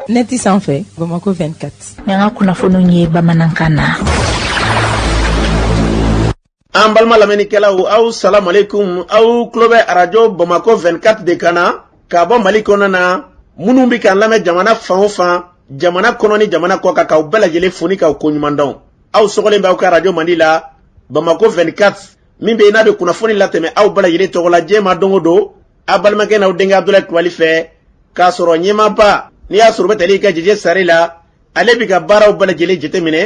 nɛti sanfɛ bamakɔ 24 yan ka kunnafoniw ye bamanankan na an balima lamɛnnikɛlaw aw salamalekum aw tulo bɛ arajo bamakɔ 24 de kan na ka bɔ mali kɔnɔ na minnu bɛ k'an lamɛn jamana fan o fan jamana kɔnɔ ni jamana kɔ kan k'aw bɛɛ lajɛlen fo ni k'aw koɲuman dɔn aw sɔgɔlen b'aw ka arajo mandi la bamakɔ 24 min bɛ yen n'a bɛ kunnafoni latɛmɛ aw bɛɛ lajɛlen tɔgɔ la diɲɛ ma don o don a balimakɛ n'aw denkɛ abudulayi kulubali fɛ k'a sɔrɔ ɲɛmaaba n'i y'a sɔrɔ o bɛ tali kɛ jeje sari la ale bɛ ka baaraw bɛɛ lajɛlen jateminɛ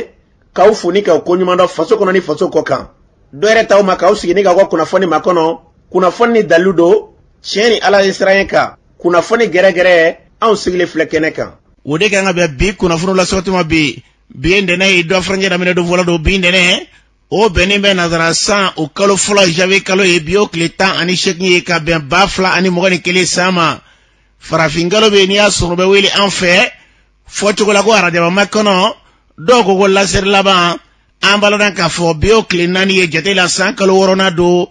k'aw fo ni k'aw koɲuman dɔn faso kɔnɔ ni faso kɔ kan dɔ yɛrɛ t'aw ma k'aw sigi ni k'aw ka kunnafoni makɔnɔ kunnafoni ni dalilu don tiɲɛ ni ala ɲɛsiranɲɛ kan kunnafoni gɛrɛgɛrɛ anw sigilen filɛ kɛnɛ kan o de kan ka bɛn bi kunnafoni lasɔgɔtuma bi bi ye ntɛnɛ ye dɔgɔ furancɛ daminɛ don fɔlɔ don bi ntɛnɛ o bɛnnen bɛ nazara san o kalo fɔlɔ janvier kalo ye bi o tile tan ani seegin ye ka bɛn ba fila ani mugan ni kelen san ma farafinkalo bɛ yen n'i y'a sɔrɔ o bɛ wele an fɛ fɔcogo la ko arajabamakɔnɔ dɔw ko ko lasirilaban an b'aw ladɔnniya k'a fɔ bi o tile naani ye jate la san kalo wɔɔrɔnan don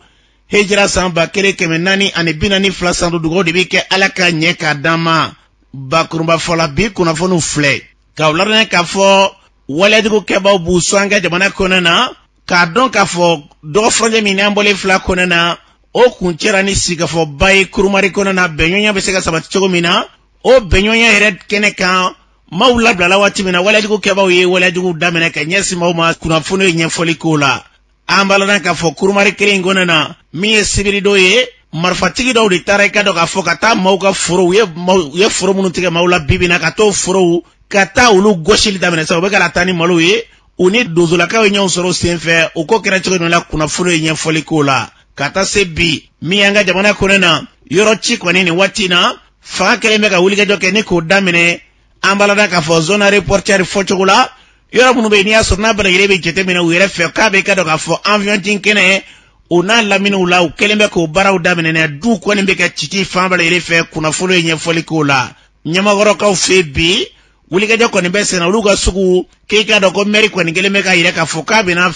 hijira san ba kelen kɛmɛ naani ani bi naani fila san don dugaw de bɛ kɛ ala k'a ɲɛ k'a d'an ma bakurubafɔ la bi kunnafoniw filɛ k'aw ladɔnniya k'a fɔ waleyajugu kɛbaw b'u sɔn an ka jamana kɔnɔna na k'a dɔn k'a fɔ dɔgɔ furancɛ min n'an bɔlen filɛ a kɔnɔna na o kuncɛra ni sigikafɔba ye kurumari kɔnɔna na bɛnɲɔgɔnya bɛ se ka sabati cogo min na o bɛnɲɔgɔnya yɛrɛ kɛnɛ kan maaw labilala waati min na waleyajugu kɛbaw ye waleyajuguw daminɛ ka ɲɛsin maaw ma kunnafoniw ye ɲɛfɔli k'o la an b'aw ladɔnniya k'a fɔ kurumari kelen in kɔnɔ na min ye sibiridon ye marifatigi dɔw de taara i k'a dɔn k'a fɔ ka taa maaw ka forow u ye foro minnu tigɛ maaw la bi bi in na ka t'o forow ka taa olu gosili daminɛ sa u bɛ ka taa ni malo ye u ni donsolakaw ye ɲɔgɔn sɔrɔ sen fɛ o ko kɛra cogo min na kunnafoni ye ɲɛfɔli k'o la ka taa se bi min y'an ka jamana kɔnɔ na yɔrɔ ci kɔni nin waati in na fanga kɛlen bɛ ka wulikajɔ kɛ ni k'o daminɛ an b'aw ladɔnniya k'a fɔ zone aéroportuaire fɔcogo la yɔrɔ minnu bɛ yen n'i y'a sɔrɔ n'a bɛɛ lajɛlen bɛ jateminɛ u yɛrɛ fɛ k'a bɛ i k'a dɔn k'a fɔ awiyɔn jigin kɛnɛ o n'a laminiw la u kɛlen bɛ k'o baaraw daminɛ duw kɔni bɛ ka cici fan bɛɛ lajɛlen fɛ kunnafoni ye ɲɛfɔli k'o la ɲamakɔrɔkaw fɛ bi wulikajɔ kɔni bɛ senna olu ka sugu k'i k'a dɔn ko mɛri kɔni kɛlen bɛ k'a yira k'a fɔ k'a bɛna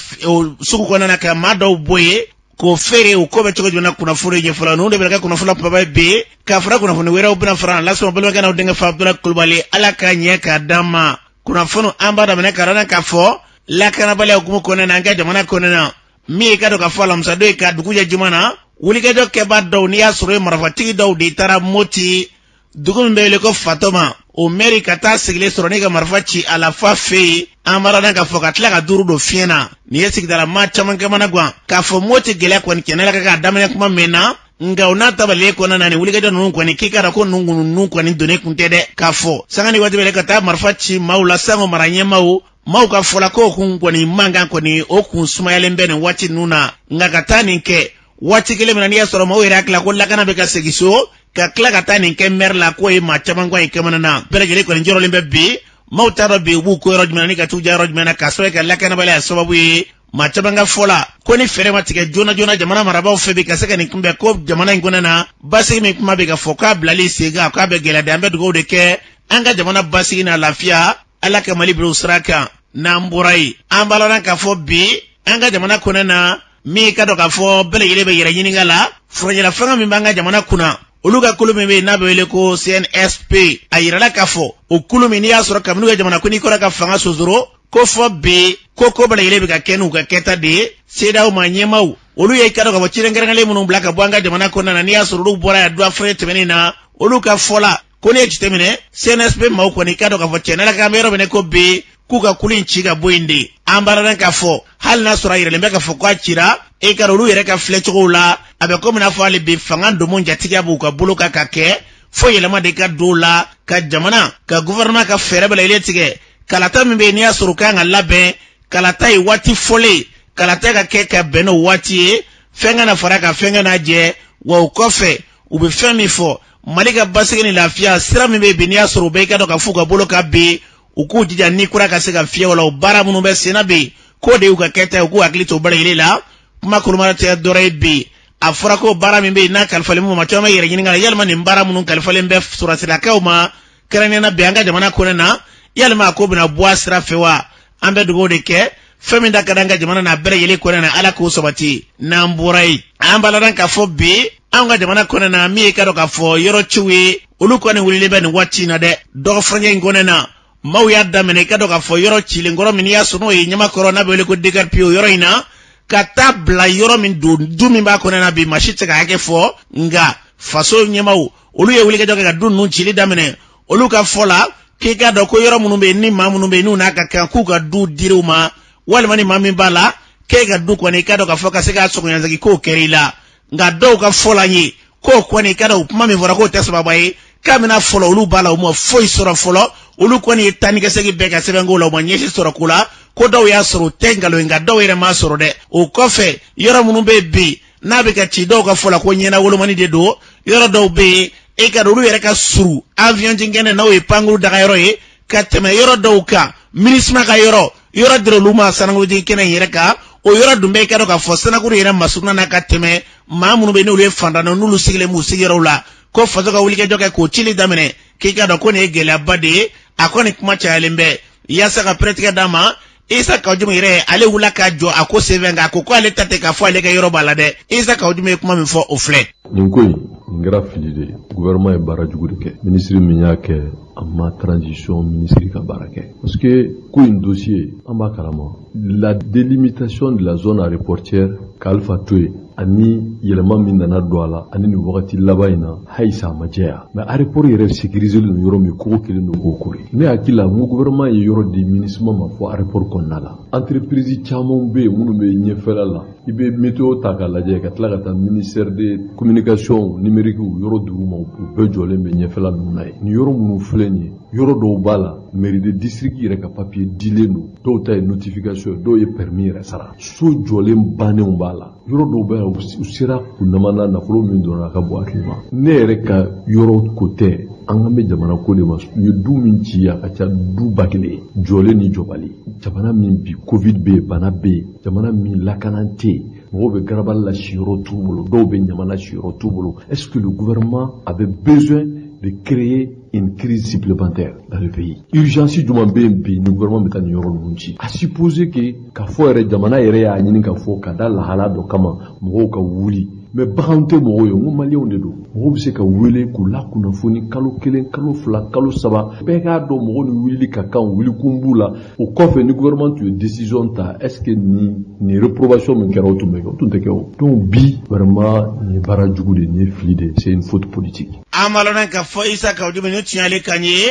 sugu kɔnɔna na ka maa dɔw bɔ yen k'o feere o ko bɛ cogo jumɛn na kunnafoni ɲɛfɔ la ninnu de bɛ kɛ kunnafoni kunbaba bi k'a fara kunnafoni wɛrɛw bɛna fara lasɔn balimakɛ n'aw denkɛ fɛ abudulayi kulubali ala k'a ɲɛ k'a d'an ma kunnafoni an b'a daminɛ k'aw ladɔnniya k'a fɔ lakanabaliya hukumu kɔnɔna na an ka jamana kɔnɔna na min ye k'a dɔn k'a fɔ alamisadon ye ka dugu jɛ juma na wulikajɔ kɛbaa dɔw n'i y'a sɔrɔ ye marafatigi dɔw de taara moti dugu min bɛ wele ko fatoma o mɛri ka taa sigilen sɔrɔ ni ka marifa ci a la fan fɛ yen an b'aw ladɔnniya k'a fɔ ka tila ka duuru don fiɲɛ na nin ye sigidala maa caman kamana gan k'a fɔ moti gɛlɛya kɔni kɛnɛ la ka k'a daminɛ kuma mɛnna nka o n'a ta bɛɛ lajɛlen kɔnɔna na nin wulikajɔ ninnu kɔni k'i k'a dɔn ko ninnu kununnu kɔni donnen kun tɛ dɛ k'a fɔ sanga ni waati bɛɛ ka taa marifa ci maaw la sango mara ɲɛmaaw maaw ka fɔ la ko kun kɔni mankan kɔni o kun sumayalen bɛ nin waati ninnu na nka ka taa nin kɛ waati kelen min na n'i y'a sɔrɔ maaw yɛrɛ hakili la ko lakana bɛ ka segin so ka tila ka taa nin kɛ mɛri la k'o ye maa caman kɔni kamana na bɛɛ lajɛlen kɔni jɔrɔlen bɛ bi maaw t'a dɔn bi u b'u ko yɔrɔ jumɛn ni ka t'u ja yɔrɔ jumɛn na k'a sɔrɔ ka lakanabaliya sababu ye maa caman ka fɔ la ko ni fɛɛrɛ ma tigɛ joona joona jamana marabaaw fɛ bi ka se ka nin kunbɛn ko jamana in kɔnɔ na basigi min kuma bɛ ka fɔ k'a bilali sen kan k'a bɛ gɛlɛya de an bɛ dugawu de kɛ an ka jamana basigi n'a lafiya ala ka mali bila o sira kan n'an bɔra yen an b'aw ladɔnniya k'a fɔ bi an ka jamana kɔnɔna na min i k'a dɔn k'a fɔ bɛɛ lajɛlen bɛ yɛrɛ ɲininka la furancɛla fanga min b'an ka jamana kunna olu ka kulu min bɛ yen n'a bɛ wele ko cnsp a yirala k'a fɔ o kulu min n'i y'a sɔrɔ kabini u ka jamanakuntigi kɔrɔ ka fanga sosoro ko fo bi ko ko bɛɛ lajɛlen bɛ ka kɛ n'u ka kɛta de ye cedeao ma ɲɛmaaw olu ye i k'a dɔn k'a fɔ ciden kɛrɛnkɛrɛnlen minnu bila ka bɔ an ka jamana kɔnɔna na n'i y'a sɔrɔ olu bɔra yan duwafure tɛmɛnen na olu ka fɔ la ko n'i y'a jateminɛ cnsp maaw kɔni i k'a dɔn k'a fɔ tiɲɛ na k'an bɛ yɔrɔ min na ko bi k'u ka kulu in ci ka bɔ yen de an b'aw ladɔnniya k'a fɔ hali n'a sɔrɔ a yiralen bɛ k'a fɔ k'a cira i k'a dɔn olu yɛrɛ ka filɛcogow la a bɛ komi n'a fɔ hali bi fanga domo jatigiya b'u ka bolo kan ka kɛ fo yɛlɛma de ka don o la ka jamana ka guvɛrɛnɛman ka fɛɛrɛ bɛɛ lajɛlen tigɛ kalata min bɛ yen n'i y'a sɔrɔ u kan ka labɛn kalata ye waati fɔlen kalata ka kɛ ka bɛn n'o waati ye fɛn kana fara ka fɛn kana jɛ wa o kɔfɛ u bɛ fɛn min fɔ mali ka basigi ni lafiya sira min bɛ yen bi n'i y'a sɔrɔ u bɛɛ i k'a dɔn k'a f'u ka bolo kan bi u k'u jija ni kura ka se ka fiyɛ o la o baara minnu bɛ senna bi k'o de y'u ka kɛta ye u k'u hakili to bɛɛ lajɛlen na kuma kurumara tɛ dɔrɔn ye bi a fɔra ko baara min bɛ yen n'a kalifalen minnu ma maa caman bɛ yɛrɛ ɲininka la yalima nin baara minnu kalifalen bɛ sɔrɔdasilakaw ma kɛrɛnkɛrɛnnenya la bi an ka jamana kɔnɔna na yalima a ko bɛna bɔ a sira fɛ wa an bɛ dugaw de kɛ fɛn min da ka d'an ka jamana na bɛɛ lajɛlen kɔnɔna na ala k'o sabati n'an bɔra yen an b'aw ladɔnniya k'a fɔ bi anw ka jamana kɔnɔna na min ye i k'a dɔn k'a fɔ yɔrɔ ciw ye olu kɔni wulilen bɛ nin waati in na dɛ dɔgɔ furancɛ in kɔnɔna na maaw y'a daminɛ i k'a dɔn k'a fɔ yɔrɔ cilen kɔrɔ min n'i y'a sɔrɔ o ye ɲamakɔrɔ n'a bɛ wele ko dekaripio yɔrɔ in na ka taa bila yɔrɔ min don du min b'a kɔnɔna na bi maa si tɛ se k'a hakɛ fɔ nka faso ɲɛmaaw olu ye wulikajɔ kɛ ka du ninnu cili daminɛ olu ka fɔ la k'i k'a dɔn ko yɔrɔ minnu bɛ yen ni maa minnu bɛ yen n'u n'a ka kan k'u ka du di u ma walima ni maa min b'a la k'e ka du kɔni i k'a dɔn k'a fɔ ka se k'a sɔngɔ lasegin k'o kɛra i la nka dɔw ka fɔ la n ye k'o kɔni i k'a dɔn o kuma min fɔra k'o tɛ sababa ye k'a bɛna fɔlɔ olu b'a la u ma foyi sɔrɔ fɔlɔ olu kɔni ye taa ni ka segin bɛɛ kɛ sɛbɛnko la u ma ɲɛ si sɔrɔ ko la ko dɔw y'a sɔrɔ o tɛ nkalon ye nka dɔw yɛrɛ m'a sɔrɔ dɛ o kɔfɛ yɔrɔ minnu bɛ yen bi n'a bɛ ka ci dɔw ka fɔ la ko ɲɛnawolomani de don yɔrɔ dɔw bɛ yen e ka olu yɛrɛ ka surun avion jinkɛnɛ n'o ye pankuru daga yɔrɔ ye ka tɛmɛ yɔrɔ dɔw kan minisima ka yɔrɔ yɔrɔ dira olu ma sanakuru jinkɛnɛ yɛrɛ kan o yɔrɔ dun bɛ i k'a dɔn k'a fɔ sanakuru yɛrɛ masuruna na ka tɛmɛ maa minnu bɛ n'olu ye fantan na n'olu sigilen b'u sigiyɔrɔw la ko faso ka wulikajɔ kɛ k'o cili daminɛ k'i k'a dɔn ko nin ye gɛlɛyaba de ye a kɔni kuma cayalen bɛ yaasa ka pɛrɛtigɛ d'a ma isa kawu jimu yɛrɛ ale wulila ka jɔ a ko senfɛ nka a ko ko ale ta tɛ k'a fɔ ale ka yɔrɔ b'a la dɛ isa kawu jimu ye kuma min fɔ o filɛ nin ko in nin kɛra fili de ye guvɛrɛnman ye baara jugu de kɛ minisiri min y'a kɛ a ma transition minisiri ka baara kɛ parce que ko in dossier an b'a kalama la délimitation de la zone aéroportière ka alpha to yen ani yɛlɛma min nana don a la ani nin wagati laban in na halisa a ma jɛya mɛ areporo yɛrɛ sécurisélen don yɔrɔ min kogo kɛlen don k'o koori ne hakili la n ko gouvernement ye yɔrɔ di minisima ma fɔ areporo kɔnɔna la entreprise caman be yen minnu be ɲɛfɛla la i be meteo ta ka lajɛ ka tila ka taa ministère de communication numérique yɔrɔ dugu ma u bɛɛ jɔlen be ɲɛfɛla nunu na ye nin yɔrɔ minnu filɛ nin ye yɔrɔ dɔw b'a la mairie de district yɛrɛ ka papiye dilen don dɔw ta ye notification ye dɔw ye permis yɛrɛ sara so jɔlen bannenw b'a la yɔrɔ dɔw b'a la u sera kunnama na nafolo min donna a ka bon hakili ma ne yɛrɛ ka yɔrɔ ko tɛ an kan bɛ jamana ko de ma u ye du min ci a ka ca du ba kelen jɔlen ni jɔbali jamana min bi covid bɛ yen bana bɛ yen jamana min lakana tɛ yen mɔgɔw bɛ garabali la siyɔrɔ t'u bolo dɔw bɛ ɲamana siyɔrɔ t'u bolo est ce que le gouvernement avait besoin de créer une crise supplémentaire dans le pays. Urgence jumɛn bɛ yen bi ni gouvernement bɛ taa nin yɔrɔ ninnu ci. À supposer que k'a fɔ yɛrɛ jamana yɛrɛ y'a ɲini k'a fɔ ka da lahala dɔ kama mɔgɔw ka wuli mɛ bagan tɛ mɔgɔw ye n ko maliyɛnw de don mɔgɔw bɛ se ka wele k'u lakunnafoni kalo kelen kalo fila kalo saba bɛɛ k'a dɔn mɔgɔw ni wulili ka kan wulikun b'u la o kɔfɛ ni gouvernement tun ye décision ta est ce que nin réprobation min kɛra o tun bɛ kɛ o tun tɛ kɛ o donc bi vraiment nin ye baara jugu de nin ye fili de c'est une faute politique an b'a lɔn k'a fɔ isa kawu jimu nin tun y'ale kan ye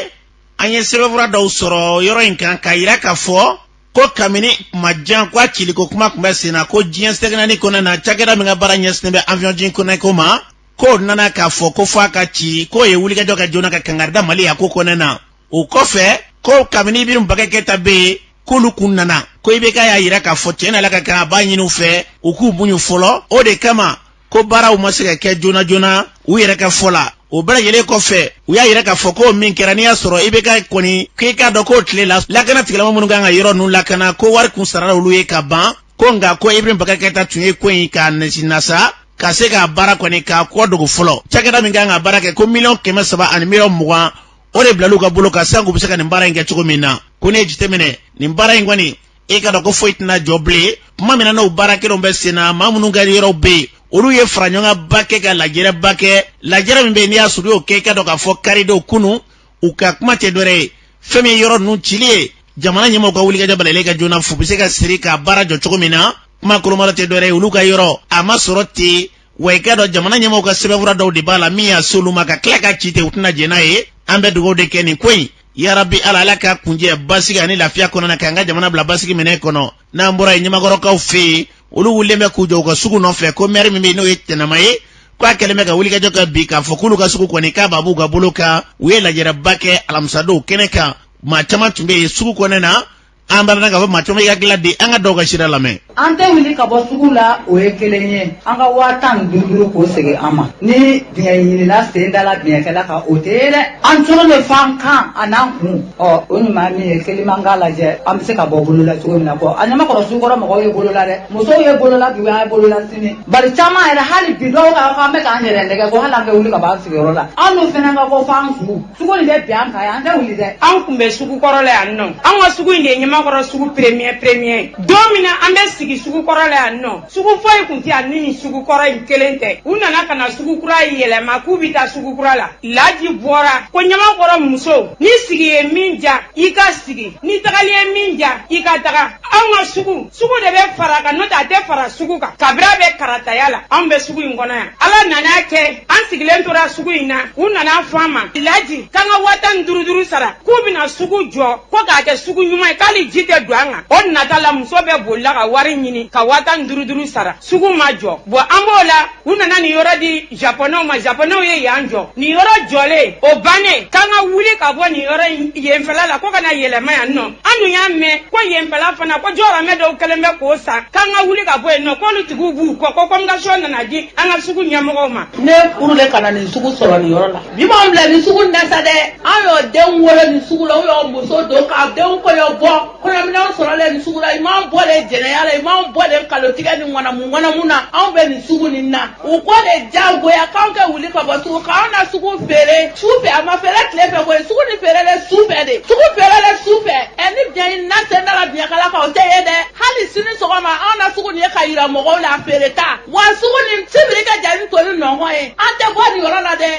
an ye sɛbɛnfura dɔw sɔrɔ yɔrɔ in kan k'a yira k'a fɔ ko kabini kuma jan ko a ciliko kuma tun bɛ sen na ko diɲɛ seleke naani kɔnɔ na cakɛda min ka baara ɲɛsinnen bɛ aviɔn jinkɛnɛ ko ma k'o nana k'a fɔ ko fɔ a ka ci k'o ye wulikajɔ kɛ joona ka kangari da mali y'a ko kɔnɔ na o kɔfɛ ko kabini ibrahim bubakari keyita bɛ yen k'olu kun nana ko ibeka y'a yira k'a fɔ tiɲɛ na ala ka kan a b'a ɲini u fɛ u k'u muɲu fɔlɔ o de kama ko baaraw ma se ka kɛ joona joona u yɛrɛ ka fɔ la o bɛɛ lajɛlen kɔfɛ u y'a yira k'a fɔ k'o min kɛra n'i y'a sɔrɔ ibeka kɔni k'i k'a dɔn k'o tile la lakana tigilamɔgɔ minnu kan ka yɔrɔ ninnu lakana ko wari kun sarala olu ye ka ban ko nka ko ibrahim bubakari keyita tun ye ko in k'a nasa ka se k'a baara kɔni k'a kɔ dogo fɔlɔ cakɛda min kan ka baara kɛ ko miliyɔn kɛmɛ saba ani miliyɔn mugan o de bilalen u ka bolo kan sank'u bɛ se ka nin baara in kɛ cogo min na ko ne ye jateminɛ nin baara in kɔni e ka dɔn ko foyi tɛna jɔ bilen tuma min na n'o baara kelenw bɛ sen na maa minnu ka yɔrɔw bɛ yen olu ye faraɲɔgɔnkanba kɛ ka lajɛrɛba kɛ lajɛrɛ min bɛ yen n'i y'a sɔrɔ u y'o kɛ i ka dɔn k'a fɔ karidenw kunun u ka kuma tɛ dɔwɛrɛ ye fɛn min ye yɔrɔ ninnu cili ye jamana ɲɛmɔgɔw ka wulikajɔ balalen kɛ joona fo u bɛ se ka sira in ka baara jɔ cogo min na kuma kolomayɔrɔ tɛ dɔwɛrɛ ye olu ka yɔrɔ a ma sɔrɔ ten wa i k'a dɔn jamana ɲɛmɔgɔw ka sɛbɛnfura dɔw de b'a la min y'a s'olu ma ka tila k'a ci ten u tɛna jɛn n'a ye an bɛ dugawu de kɛ nin ko in yarabi ala ala k'a kuncɛ basigi ani lafiya kɔnɔna k'an ka jamana bila basigi minɛn kɔnɔ n'an bɔra ye ɲamakɔrɔkaw fɛ yen olu wulilen bɛ k'u jɔ u ka sugu nɔfɛ ko mɛri min bɛ yen n'o ye tɛnɛma ye k'a kɛlen bɛ ka wulikajɔ kɛ bi k'a fɔ k'olu ka sugu kɔni k'a b'a b'u ka bolo kan u ye lajɛrɛba kɛ alamisadon o kɛnɛ kan maa caman tun bɛ yen sugu kɔnɔna an barana ka fɔ maa caman y'a hakilila di an ka dɔw ka sira lamɛn an tɛ wuli ka bɔ sugu la o ye kelen ye an ka waa tan ni duuru duuru k'o segin an ma ni biɲɛ ɲinina sen da la biɲɛkala kan o tɛ ye dɛ an cogo bɛ fan kan a n'an kun ɔ o ɲuman min ye kelen man k'a lajɛ an bɛ se ka bɔ bolon la cogo min na ko a ɲamakɔrɔ sugu kɔrɔ mɔgɔw ye bolon la dɛ musow ye bolon la bi o an ye bolon la sini bari caman yɛrɛ hali bi dɔw ka fɔ an bɛ k'an yɛrɛ nɛgɛn ko hali an kɛ wuli ka bɔ an sigiyɔrɔ la an n'u fana ka bɔ f'an kun sugu nin bɛ bɛn an kan yan an tɛ wuli dɛ an kun bɛ sugu kɔrɔ la yan nɔ an ka sugu in de ye ɲamakɔrɔ sugu premier premier don min na an bɛ sigi sugu kɔrɔ la yan nɔ sugu foyi kun tɛ yan ni nin sugu kɔrɔ in kelen tɛ u nana ka na sugu kura yɛlɛma k'u bɛ taa sugu kura la laji bɔra ko ɲamakɔrɔ musow ni sigi ye min diya i ka sigi ni tagali ye min diya i ka taga anw ka sugu sugu de bɛ fara kan n'o tɛ a tɛ fara sugu kan kabini a bɛ karataya la anw bɛ sugu in kɔnɔ yan ala nan'a kɛ an sigilen tora sugu in na u nan'a fɔ an ma laji k'an ka waa tan ni duuru duuru sara k'u bɛna sugu jɔ ko k'a kɛ sugu ɲuman ye ko hali ji tɛ don an kan o nata la muso bɛɛ bolila ka wari ɲini ka waa tan ni duuru duuru sara sugu ma jɔ bɔn an b'o la u nana nin yɔrɔ di japonɛw ma japonɛw ye yan jɔ nin yɔrɔ jɔlen o bannen k'an ka wuli ka bɔ nin yɔrɔ yenfɛla la ko ka na yɛlɛma yan nɔ an dun y'a mɛn ko yenfɛla fana ko jɔgɔramɛ dɔw kɛlen bɛ k'o san k'an ka wuli ka bɔ yen nɔ k'olu tigiw b'u kɔ ko convocation nana di an ka sugu ɲɛmɔgɔw ma ne furulen ka na nin sugu sɔrɔ nin yɔrɔ la bi m'an bila nin sugu na sa dɛ an y'o denw wolo nin sugu la u y'o muso don k'a denw kɔɲɔ bɔ kɔɲɔminɛnw sɔrɔlen nin sugu la i m'an bɔ le jɛnɛya la i m'an bɔ le kalotigɛ ni ŋanamu ŋanamu na anw bɛ nin sugu nin na u ko de jagoya k'anw kɛ wuli ka bɔ sugu k'anw na sugu feere su fɛ a ma feere tile fɛ koyi sugu ni feerelen su fɛ de sugu feerelen su fɛ ɛ ni biɲɛ ɲinina sen da la biɲɛkala kan o tɛ ye dɛ hali sini sɔgɔma anw na sugu nin ye ka yira mɔgɔw la feere ta wa sugu nin sibiri ka jan ni tɔ nin nɔnkɔn ye an tɛ bɔ nin yɔrɔ la dɛ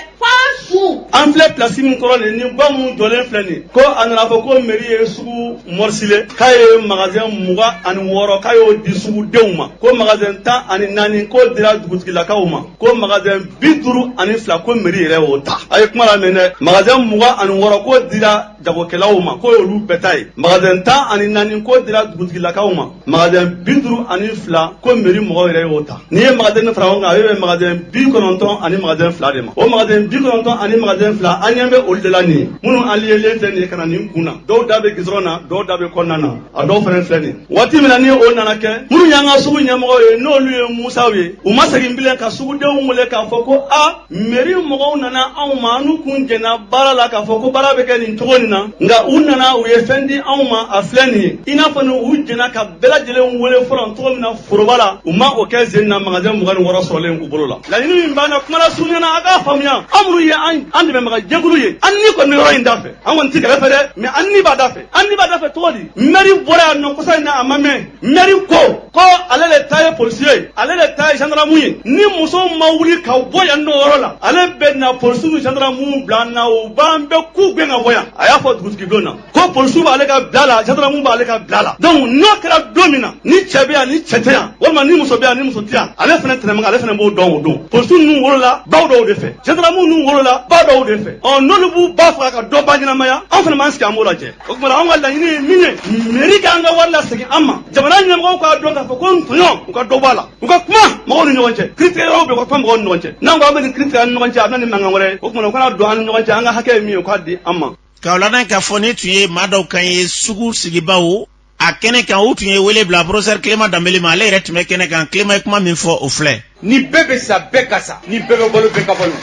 an filɛ plasi min kɔrɔ nin ni gwa minnu jɔlen filɛ nin ko a nana a fɔ ko meri ye sugu mɔrisile k'a ye magazɛn mugan ani wɔɔrɔ k'a y'o di sugudenw ma ko magazɛn tan ani naani k'o dira dugutigilakaw ma ko magazɛn bi duuru ani fila ko meri yɛrɛ y'o ta a ye kuma lamɛn dɛ magazɛn mugan ani wɔɔrɔ k'o dira jagokɛlaw ma k'o y'olu bɛɛ ta ye magazɛn tan ani naani k'o dira dugutigilakaw ma magazɛn bi duuru ani fila ko meri mɔgɔw yɛrɛ y'o ta n'i ye magazɛn fara ɲɔgɔn kan a bɛ bɛn magazɛn bi kɔnɔntɔn ani magazɛn fila de ma o magazɛn bi kɔnɔntɔn ani magazɛn fila an ɲɛ bɛ olu de la nin ye minnu aliɲelen filɛ nin ye ka na nin kun na dɔw da bɛ gidɔrɔn na dɔw da bɛ kɔnɔna na a dɔw fana filɛ nin waati min na ni o nana kɛ minnu y'an ka sugu ɲɛmɔgɔw ye n'olu ye musaw ye u ma segin bilen ka sugudenw wele k'a fɔ ko a meri mɔgɔw nana anw ma an n'u kun jɛnna baara la k'a fɔ ko baara bɛ kɛ nin cogo nin na nka u nana u ye fɛn di anw ma a filɛ nin ye i n'a fɔ ni u jɛnna ka bɛɛ lajɛlen wele fɔlɔ cogo min na foroba la u ma o kɛ zen na magasɛn mugan ni wɔɔrɔ sɔrɔlen u bolo la laɲini min b'an na kuma lasurunya na a k'a faamuya an minnu ye an dɛmɛbaga jɛkulu ye an ni kɔni bɛ yɔrɔ in da fɛ an kɔni tɛ kɛlɛ fɛ dɛ mɛ an ni b'a da fɛ an ni b'a da fɛ cogo di mɛri bɔra yan nɔ kɔsa in na a ma mɛn mɛri ko ko ale de ta ye polisi ye ale de ta ye zandaramu ye ni musow ma wuli ka bɔ yan n'o yɔrɔ la ale bɛ na polisi ni zandaramu bila an na u b'an bɛɛ k'u gɛn ka bɔ yan a y'a fɔ dugutigi blon na ko polisiw b'ale ka bila la zandaramu b'ale ka bila la donc n'o kɛra don min na ni cɛ bɛ yan ni cɛ tɛ yan walima ni muso bɛ yan ni muso tɛ yan ale fana tɛnɛmɛ ale fana b'o dɔn o don polisi ninnu wolola baw dɔw de fɛ zandaramu ninnu wolola ba dɔw de fɛ ɔ n'olu b'u ba faga ka dɔ ba ɲɛnamaya an fana b'an sigi an b'o lajɛ o tuma an ka laɲini ye min ye meri k'an ka wari lasegin an ma jamana ɲɛmɔgɔw k'a dɔn k'a fɔ ko tɔɲɔ u ka dɔ bɔ a la u ka kuma mɔgɔw ni ɲɔgɔn cɛ kiritigɛyɔrɔw bɛ u ka kuma mɔgɔw ni ɲɔgɔn cɛ n'an ko an bɛ nin kiri tigɛ an ni ɲɔgɔn cɛ a bɛ na ni mankan wɛrɛ ye o tuma u ka na don an ni ɲɔgɔn cɛ an ka hakɛ ye min ye u k'a di an ma k'aw ladɔn k'a fɔ nin tun ye maa dɔw kan ye sugu sigibaw a kɛnɛ kan u tun ye wele bila porofesɛri kilema danbele ma ale yɛrɛ tun bɛ kɛnɛ kan kilema ye kuma min fɔ o filɛ ni bɛɛ bɛ sa bɛɛ ka sa ni bɛɛ bɛ balo bɛɛ ka balo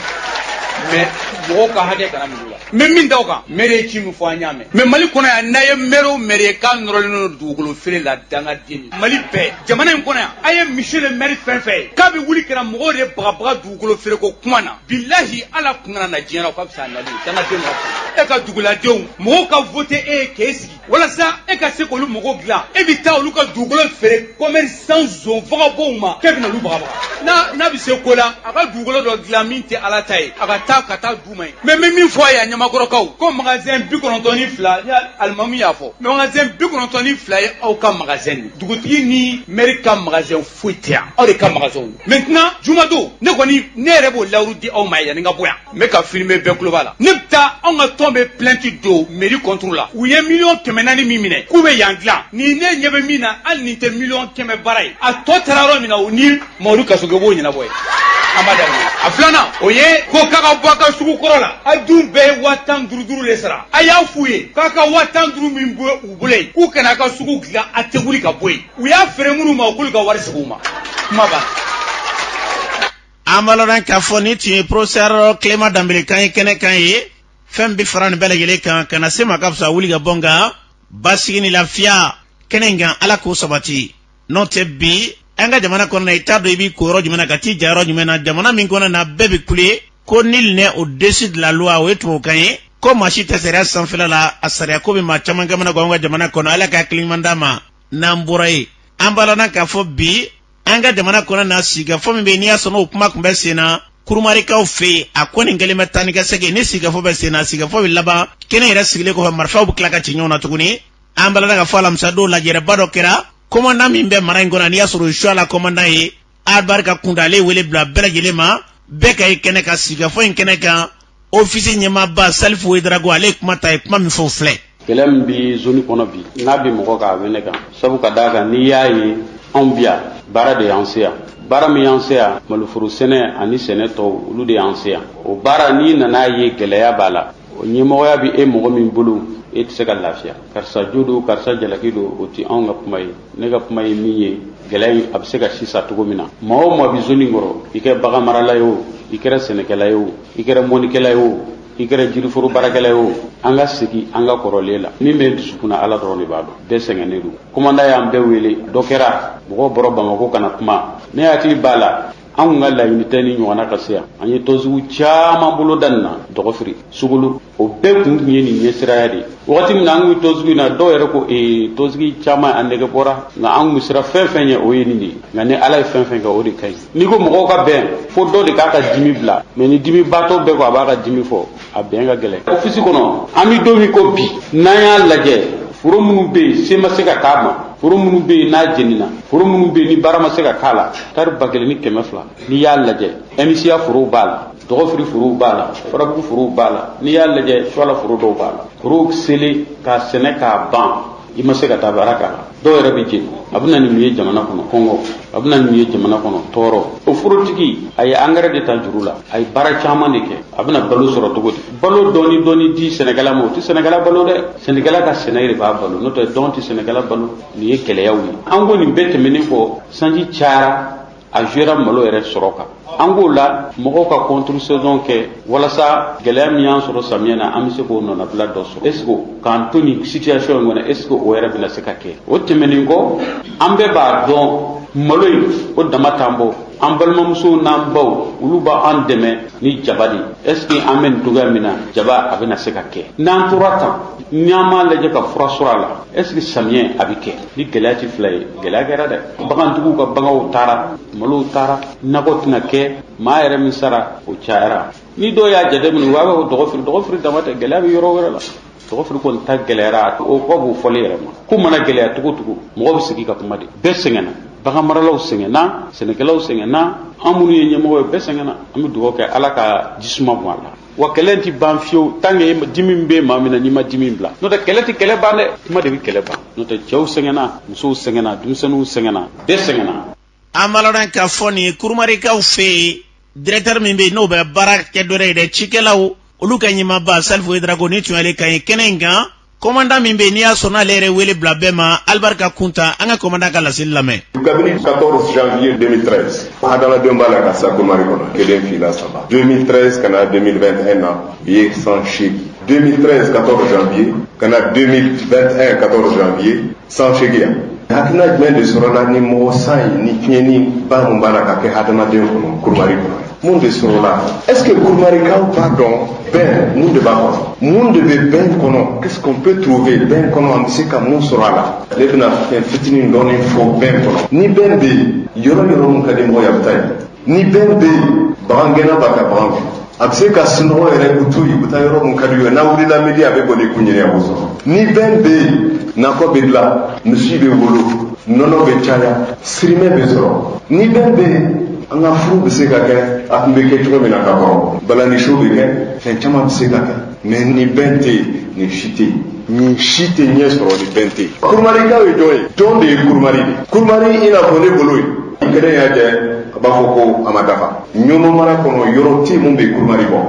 mɛ mɔgɔw ka hakɛ kana minɛ u la n bɛ min da o kan mɛri ye ci min fɔ an y'a mɛn mɛ mali kɔnɔ yan n'a ye mɛri o mɛri ye k'a nɔrɔlen don dugukolo feere la dangaden ye mali bɛɛ jamana in kɔnɔ yan a ye misiye le mɛri fɛn fɛn ye k'a bɛ wuli ka na mɔgɔw de bagabaga dugukolo feere ko kuma na bilahi ale kun kana na diɲɛ na o ka fisa a nali ye dangaden ma e ka duguladenw mɔgɔw ka vote e ye k'e sigi walasa e ka se k'olu mago dilan e bɛ taa olu ka dugukolo feere kɔmɛrisan zon vagabɔnw ma k'e bɛna olu bagabaga n'a n'a bɛ se ko la a ka dugukolo dɔ dilan min tɛ ala ta ye a ka taa ka t'a d'u ma yen mɛ n bɛ min fɔ a ye a ɲamakɔrɔkaw ko magasɛn bi kɔnɔntɔn ni fila ni alimamu y'a fɔ magasɛn bi kɔnɔntɔn ni fila ye aw ka magasɛn de dugutigi ni mɛri ka magasɛn foyi tɛ yan aw de ka magasɛnw mɛntinan jumadon ne kɔni ne yɛrɛ b'o lawuru di aw ma yanni n ka bɔ yan n bɛ ka filime bɛɛ tulo b'a la ne bɛ taa anw ka tɔn bɛ plainti don meri kɔnturu la u ye miliyɔn kɛmɛ naani min minɛ k'u bɛ yan dilan ni ne ɲɛ bɛ min na hali nin tɛ miliyɔn kɛmɛ baara ye a tɔ taara yɔrɔ min na u ni mamadu kasoge b'o ɲɛnabɔ ye a filanan o ye ko k'a ka bɔ a ka sugu kɔrɔ la a dun bɛɛ ye waa tan duuru duuru de sara a y'a f'u ye k'a ka waa tan duuru min bɛ u bolo yen k'u kana a ka sugu dilan a tɛ wuli ka bɔ yen u y'a feere minnu ma u k'olu ka wari segin u ma kuma banna an b'a ladɔn k'a fɔ nin tun ye professeur clément danbele kan ye kɛnɛ kan yen fɛn bɛ fara nin bɛɛ lajɛlen kan ka na se ma ka fisa wuli ka bɔ nka basigi ni lafiya kɛnɛ in kan ala k'o sabati n'o tɛ bi an ka jamana kɔnɔna i t'a dɔn i b'i ko yɔrɔ jumɛn na ka t'i ja yɔrɔ jumɛn na jamana min kɔnɔ na bɛɛ bɛ kule ko nul n'est au-dessus de la loi o ye tubabukan ye ko maa si tɛ sariya sanfɛla la a sariya ko bɛ maa caman kamana gan an ka jamana kɔnɔ ala ka hakiliɲuman d'an ma n'an bɔra yen an balana k'a fɔ bi an ka jamana kɔnɔ na sigikafɔ min bɛ yen n'i y'a sɔrɔ o kuma tun bɛ sen na kurumarikaw fɛ yen a ko nin kɛlen bɛ taa ni ka segin ni sigikafɔ bɛ sen na sigikafɔ bɛ laban kɛnɛ yɛrɛ sigilen kɔfɛ marifaw bɛ tila ka ci ɲɔgɔn na tuguni an balana k'a fɔ alamisa don lajɛrɛba dɔ kɛra kɔmandan min bɛ mara in kɔnɔ n'i y'a sɔrɔ o ye suala kɔmandan ye albarka kunta ale wele bila bɛɛ lajɛlen ma bɛɛ ka ye kɛnɛ kan sigikafɔ in kɛnɛ kan ofisi ɲɛmaaba salifu wedarago ale ye kuma ta a ye kuma min fɔ o filɛ kɛlɛ min bɛ zoni kɔnɔ bi n'a bɛ mɔgɔ kan a bɛ ne kan sabu ka d'a kan n'i y'a ye anw bi yan baara de y'an se yan baara min y'an se yan maloforo sɛnɛ ani sɛnɛ tɔw olu de y'an se yan o baara n'i nan'a ye gɛlɛya b'a la o ɲɛmɔgɔya bɛ e mɔgɔ min bolo e tɛ se ka lafiya karisa jo don karisa jalaki don o tɛ anw ka kuma ye ne ka kuma ye min ye gɛlɛya in a bɛ se ka sisa cogo min na maa o maa bɛ zoni kɔrɔ i kɛra bagan marala ye o i kɛra sɛnɛkɛla ye o i kɛra mɔnikɛla ye o i kɛra jiriforo baarakɛla ye o an ka segin an ka kɔrɔlen la min bɛ dusukun na ala dɔrɔn de b'a dɔn bɛɛ sɛgɛnnen don kɔmandan y'an bɛɛ wele dɔ kɛra mɔgɔw bɔra bamako ka na kuma ne hakili b'a la an kun ka laɲini tɛ nin ɲɔgɔnna ka se yan an ye tɔnsigi caman boloda nin na dɔgɔfiri sokolo o bɛɛ kun tun ye nin ɲɛsiranya de ye wagati min na an tun bɛ tɔnsigi na dɔw yɛrɛ ko ee tɔnsigi caman an nege bɔra nka an tun bɛ siran fɛn fɛn ɲɛ o ye nin de ye nka ni ala ye fɛn fɛn kɛ o de ka ɲi n'i ko mɔgɔw ka bɛn fo dɔ de k'a ka dimi bila mɛ ni dimibaatɔ bɛɛ ko a b'a ka dimi fɔ a bɛn ka gɛlɛn ofisi kɔnɔ an bɛ don min ko bi n'an y'a lajɛ foro minnu bɛ yen se ma se ka k'a ma foro minnu bɛ yen n'a jenina foro minnu bɛ yen ni baara ma se ka k'a la tari ba kelen ni kɛmɛ fila n'i y'a lajɛ ɛmisiya forow b'a la dɔgɔfiri forow b'a la farabugu forow b'a la n'i y'a lajɛ suala foro dɔw b'a la forow selen ka sɛnɛ k'a ban i ma se ka taa baara k'a la dɔw yɛrɛ bɛ jeni a bɛ na ni min ye jamana kɔnɔ kɔngɔ a bɛ na ni min ye jamana kɔnɔ tɔɔrɔ o forotigi a ye angɛrɛ de ta juru la a ye baara caman de kɛ a bɛna balo sɔrɔ cogo di balo dɔɔni dɔɔni di sɛnɛkɛla ma o tɛ sɛnɛkɛla balo dɛ sɛnɛkɛla ka sɛnɛ yɛrɛ b'a balo n'o tɛ don tɛ sɛnɛkɛla balo nin ye gɛlɛyaw ye an ko nin bɛɛ tɛmɛnen kɔ sanji cayara a jouera malo yɛrɛ sɔrɔ kan an k'o la mɔgɔw ka contre saison kɛ walasa gɛlɛya min y'an sɔrɔ samiyɛ na an bɛ se k'o nɔnabila dɔ sɔrɔ est ce que k'an to nin situation in kɔnɔ est ce que o yɛrɛ bɛna se ka kɛ o tɛmɛnen kɔ an bɛɛ b'a dɔn malo in o dama t'an bɔ an balimamusow n'an baw olu b'an dɛmɛ ni jaba de ye est ce que an bɛ nin cogoya min na jaba a bɛna se ka kɛ n'an tora tan n'an m'a lajɛ ka fura sɔrɔ a la est ce que samiyɛ a bɛ kɛ ni gɛlɛya tɛ fila ye gɛlɛya kɛra dɛ bagantigiw ka baganw taara malow taara nakɔ tɛna kɛ maa yɛrɛ min sara o cayara ni dɔw y'a jate minɛ wa bɛ o dɔgɔfiri dɔgɔfiri dama tɛ gɛlɛya bɛ yɔrɔ wɛrɛ la dɔgɔfiri kɔni ta gɛlɛyara o kɔ b'o fɔli yɛrɛ ma ko mana gɛlɛya cogo cogo mɔgɔ bɛ sigi ka kuma de bɛɛ sɛgɛnna bagan maralaw sɛgɛnna sɛnɛkɛlaw sɛgɛnna an minnu ye ɲɛmɔgɔ ye bɛɛ sɛgɛnna an bɛ dugawu kɛ ala ka jisuma bɔn a la wa kɛlɛ tɛ ban fiyewu tant que dimi bɛ maa min na n'i ma dimi bila n'o tɛ kɛlɛ tɛ kɛlɛ ban dɛ kuma de bɛ kɛlɛ ban n'o tɛ cɛw sɛgɛnna musow sɛgɛnna denmisɛnninw sɛgɛnna bɛɛ sɛgɛnna an b'a lɔn k'a fɔ nin kurumarikaw fɛ yen directeur min bɛ yen n'o bɛ baara kɛ dɔ ye dɛ cikɛlaw olu ka ɲɛmaaba salifu wedrago nin tun y'ale kan ye kɛnɛ in kan kɔmandan min bɛ yen n'i y'a sɔrɔ n'ale yɛrɛ wele bila bɛɛ ma alibarika kunta an ka kɔmandan ka laseli lamɛn. kabini 14 janvier 2013 hadamadenw b'a la ka sa kurumari kɔnɔ kelen fila saba 2013 ka na 2021 na o ye san seegin 2013 14 janvier ka na 2021 14 janvier san seegin ye hakilina jumɛn de sɔrɔla ni mɔgɔ saya ni tiɲɛniba min b'a la ka kɛ hadamaden kɔnɔ kurumari kɔnɔ mun de sɔrɔla est ce que kurumarikaw b'a dɔn bɛn mun de b'a kɔnɔ mun de bɛ bɛn kɔnɔ qu'est ce qu'on peut trouver bɛn kɔnɔ an bɛ se ka mun sɔrɔ a la ne bɛna fɛn fitinin dɔɔni fɔ bɛn kɔnɔ ni bɛn bɛ yen yɔrɔ yɔrɔ min ka di mɔgɔ ye a bɛ taa yen ni bɛn bɛ yen bagangɛnna b'a ka bagan fɛ a bɛ se ka sunɔgɔ yɛrɛ u to yen u bɛ taa yɔrɔ min ka di u ye n'a wulila midi a bɛ boli k'u ɲini a b'u sɔrɔ ni bɛn bɛ yen nakɔ bɛ dilan misi bɛ wolo nɔnɔ bɛ caya sirimɛ bɛ sɔrɔ ni bɛn bɛ yen an ka furu bɛ se ka kɛ a tun bɛ kɛ cogo min na ka kɔrɔ balani show bɛ kɛ fɛn caman bɛ se ka kɛ mais ni bɛn tɛ yen nin si tɛ yen nin si tɛ ɲɛ sɔrɔ ni bɛn tɛ yen kurumarikaw ye jɔn ye jɔn de ye kurumari de kurumari i n'a fɔ ne bolo ye kelen y'a jɛ a b'a fɔ ko a ma dafa ɲɔnɔ mara kɔnɔ yɔrɔ tɛ min bɛ kurumari bɔ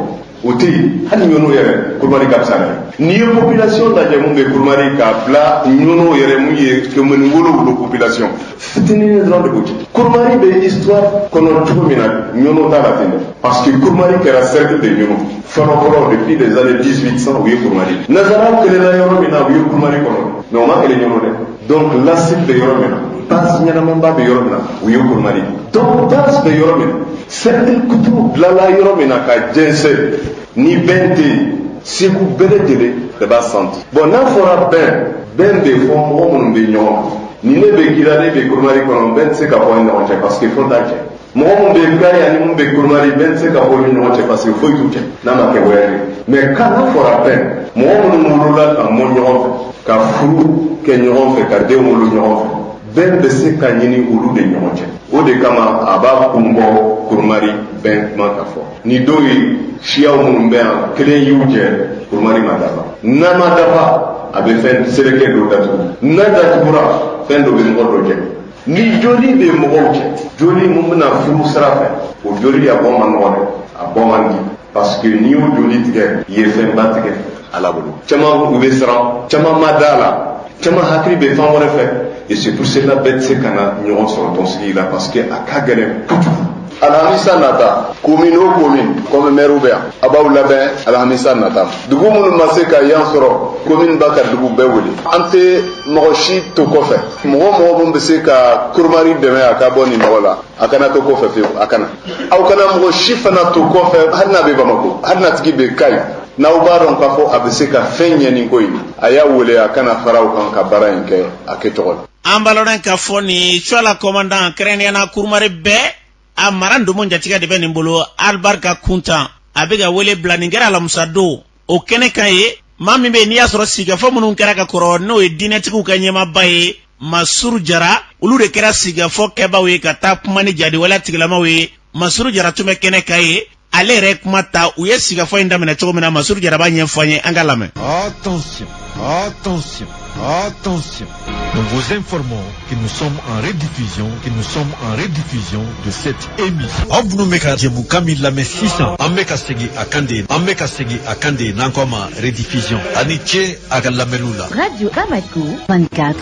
o tɛ yen hali ɲɔnɔ yɛrɛ kurumari ka fisa n'a ye n'i ye population lajɛ min bɛ kurumari k'a bila ɲɔnɔ yɛrɛ min ye komini wolonwula population fitinin dɔrɔn de b'u cɛ kurumari bɛ histoire kɔnɔ cogo min na ɲɔnɔ t'a la ten dɛ parce que kurumari kɛra cercle de ɲɔnɔ fɔlɔ fɔlɔ depuis les années 1800 u ye kurumari nazaraw kɛlɛla yɔrɔ min na o ye kurumari kɔnɔ mais u ma kɛlɛ ɲɔnɔ dɛ donc lasili bɛ yɔrɔ min na base ɲɛnamanba bɛ yɔrɔ min na o ye kurumari donc base bɛ yɔrɔ min na cercle kuturu bilala yɔrɔ min na ka jɛnsɛn ni bɛn tɛ yen segu bɛɛ lajɛlen de b'a santi bɔn n'a fɔra bɛn bɛn bɛ fɔ mɔgɔ minnu bɛ ɲɔgɔn ni ne bɛ kira e bɛ kurumari kɔnɔ bɛn tɛ se ka fɔ an ni ɲɔgɔn cɛ parce que foyi t'an cɛ mɔgɔ minnu bɛ gari ani minnu bɛ kurumari bɛn tɛ se ka fɔ u ni ɲɔgɔn cɛ parce que foyi t'u cɛ n'a ma kɛ wɛrɛ ye mais quand n'a fɔra bɛn mɔgɔ minnu wolola ka mɔ ɲɔgɔn fɛ ka furu kɛ ɲɔgɔn fɛ ka den wolo ɲɔgɔn fɛ bɛn bɛ se ka ɲini olu de ɲɔgɔn cɛ o de kama a b'a kun bɔ kurumari bɛn kuma ka fɔ ni dɔw ye siyaw minnu bɛ yan kelen y'u jɛ kurumari ma dafa n'a ma dafa a bɛ fɛn seleke dɔ datugu n'a datugura fɛn dɔ bɛ mɔgɔ dɔ jɛ ni joli bɛ mɔgɔw cɛ joli min bɛ na furu sira fɛ o joli a bɔ man nɔgɔn dɛ a bɔ man di parce que n'i y'o joli tigɛ i ye fɛnba tigɛ ala bolo caman u bɛ siran caman ma da a la caman hakili bɛ fan wɛrɛ fɛ et c'est pour cela bɛɛ tɛ se ka na ɲɔgɔn sɔrɔ tɔnsigi la parce que a ka gɛlɛn kojugu alhamisa nata komin o komin kɔmi mɛriw bɛ yan a b'aw labɛn alhamisa nata dugu minnu ma se ka yan sɔrɔ komin b'a ka dugu bɛɛ wele an tɛ mɔgɔ si to kɔfɛ mɔgɔ o mɔgɔ min bɛ se ka kurumari dɛmɛ a ka bɔ nin nɔgɔ la a kana to kɔfɛ fewu a kana aw kana mɔgɔ si fana to kɔfɛ hali n'a bɛ bamako hali n'a tigi bɛ kayi n'aw b'a dɔn k'a fɔ a bɛ se ka fɛn ɲɛ nin ko in a y'a wele a ka na fara aw kan ka baara in kɛ a kɛcogo la an b'a lɔn k'a fɔ nin cuala kɔmandan kɛrɛnnenya na kurumari bɛɛ a mara ndomo jatigɛ de bɛ nin bolo alibarika kuntan a bɛ ka wele bila nin kɛra alamusa don o kɛnɛ kan yen maa min bɛ yen n'i y'a sɔrɔ sigikafɔ minnu kɛra ka kɔrɔ n'o ye diinɛtigiw ka ɲɛmaaba ye masuru jara olu de kɛra sigikafɔ kɛbaaw ye ka taa kuma ni jadi wale tigilamaw ye masuru jara tun bɛ kɛnɛ kan yen ale yɛrɛ kuma ta u ye sigafɔ in daminɛ cogo min na masuru jara b'a ɲɛfɔ an ye an k'a lamɛn attention attention attention nous vous informons que nous sommes en rediffusion que nous sommes en rediffusion de cette émission aw minnu bɛ ka jɛmukan min lamɛn sisan an bɛ ka segin a kan de an bɛ ka segin a kan de n'an k'a ma rediffusion a ni ce a ka lamɛnniw la radio bamako 24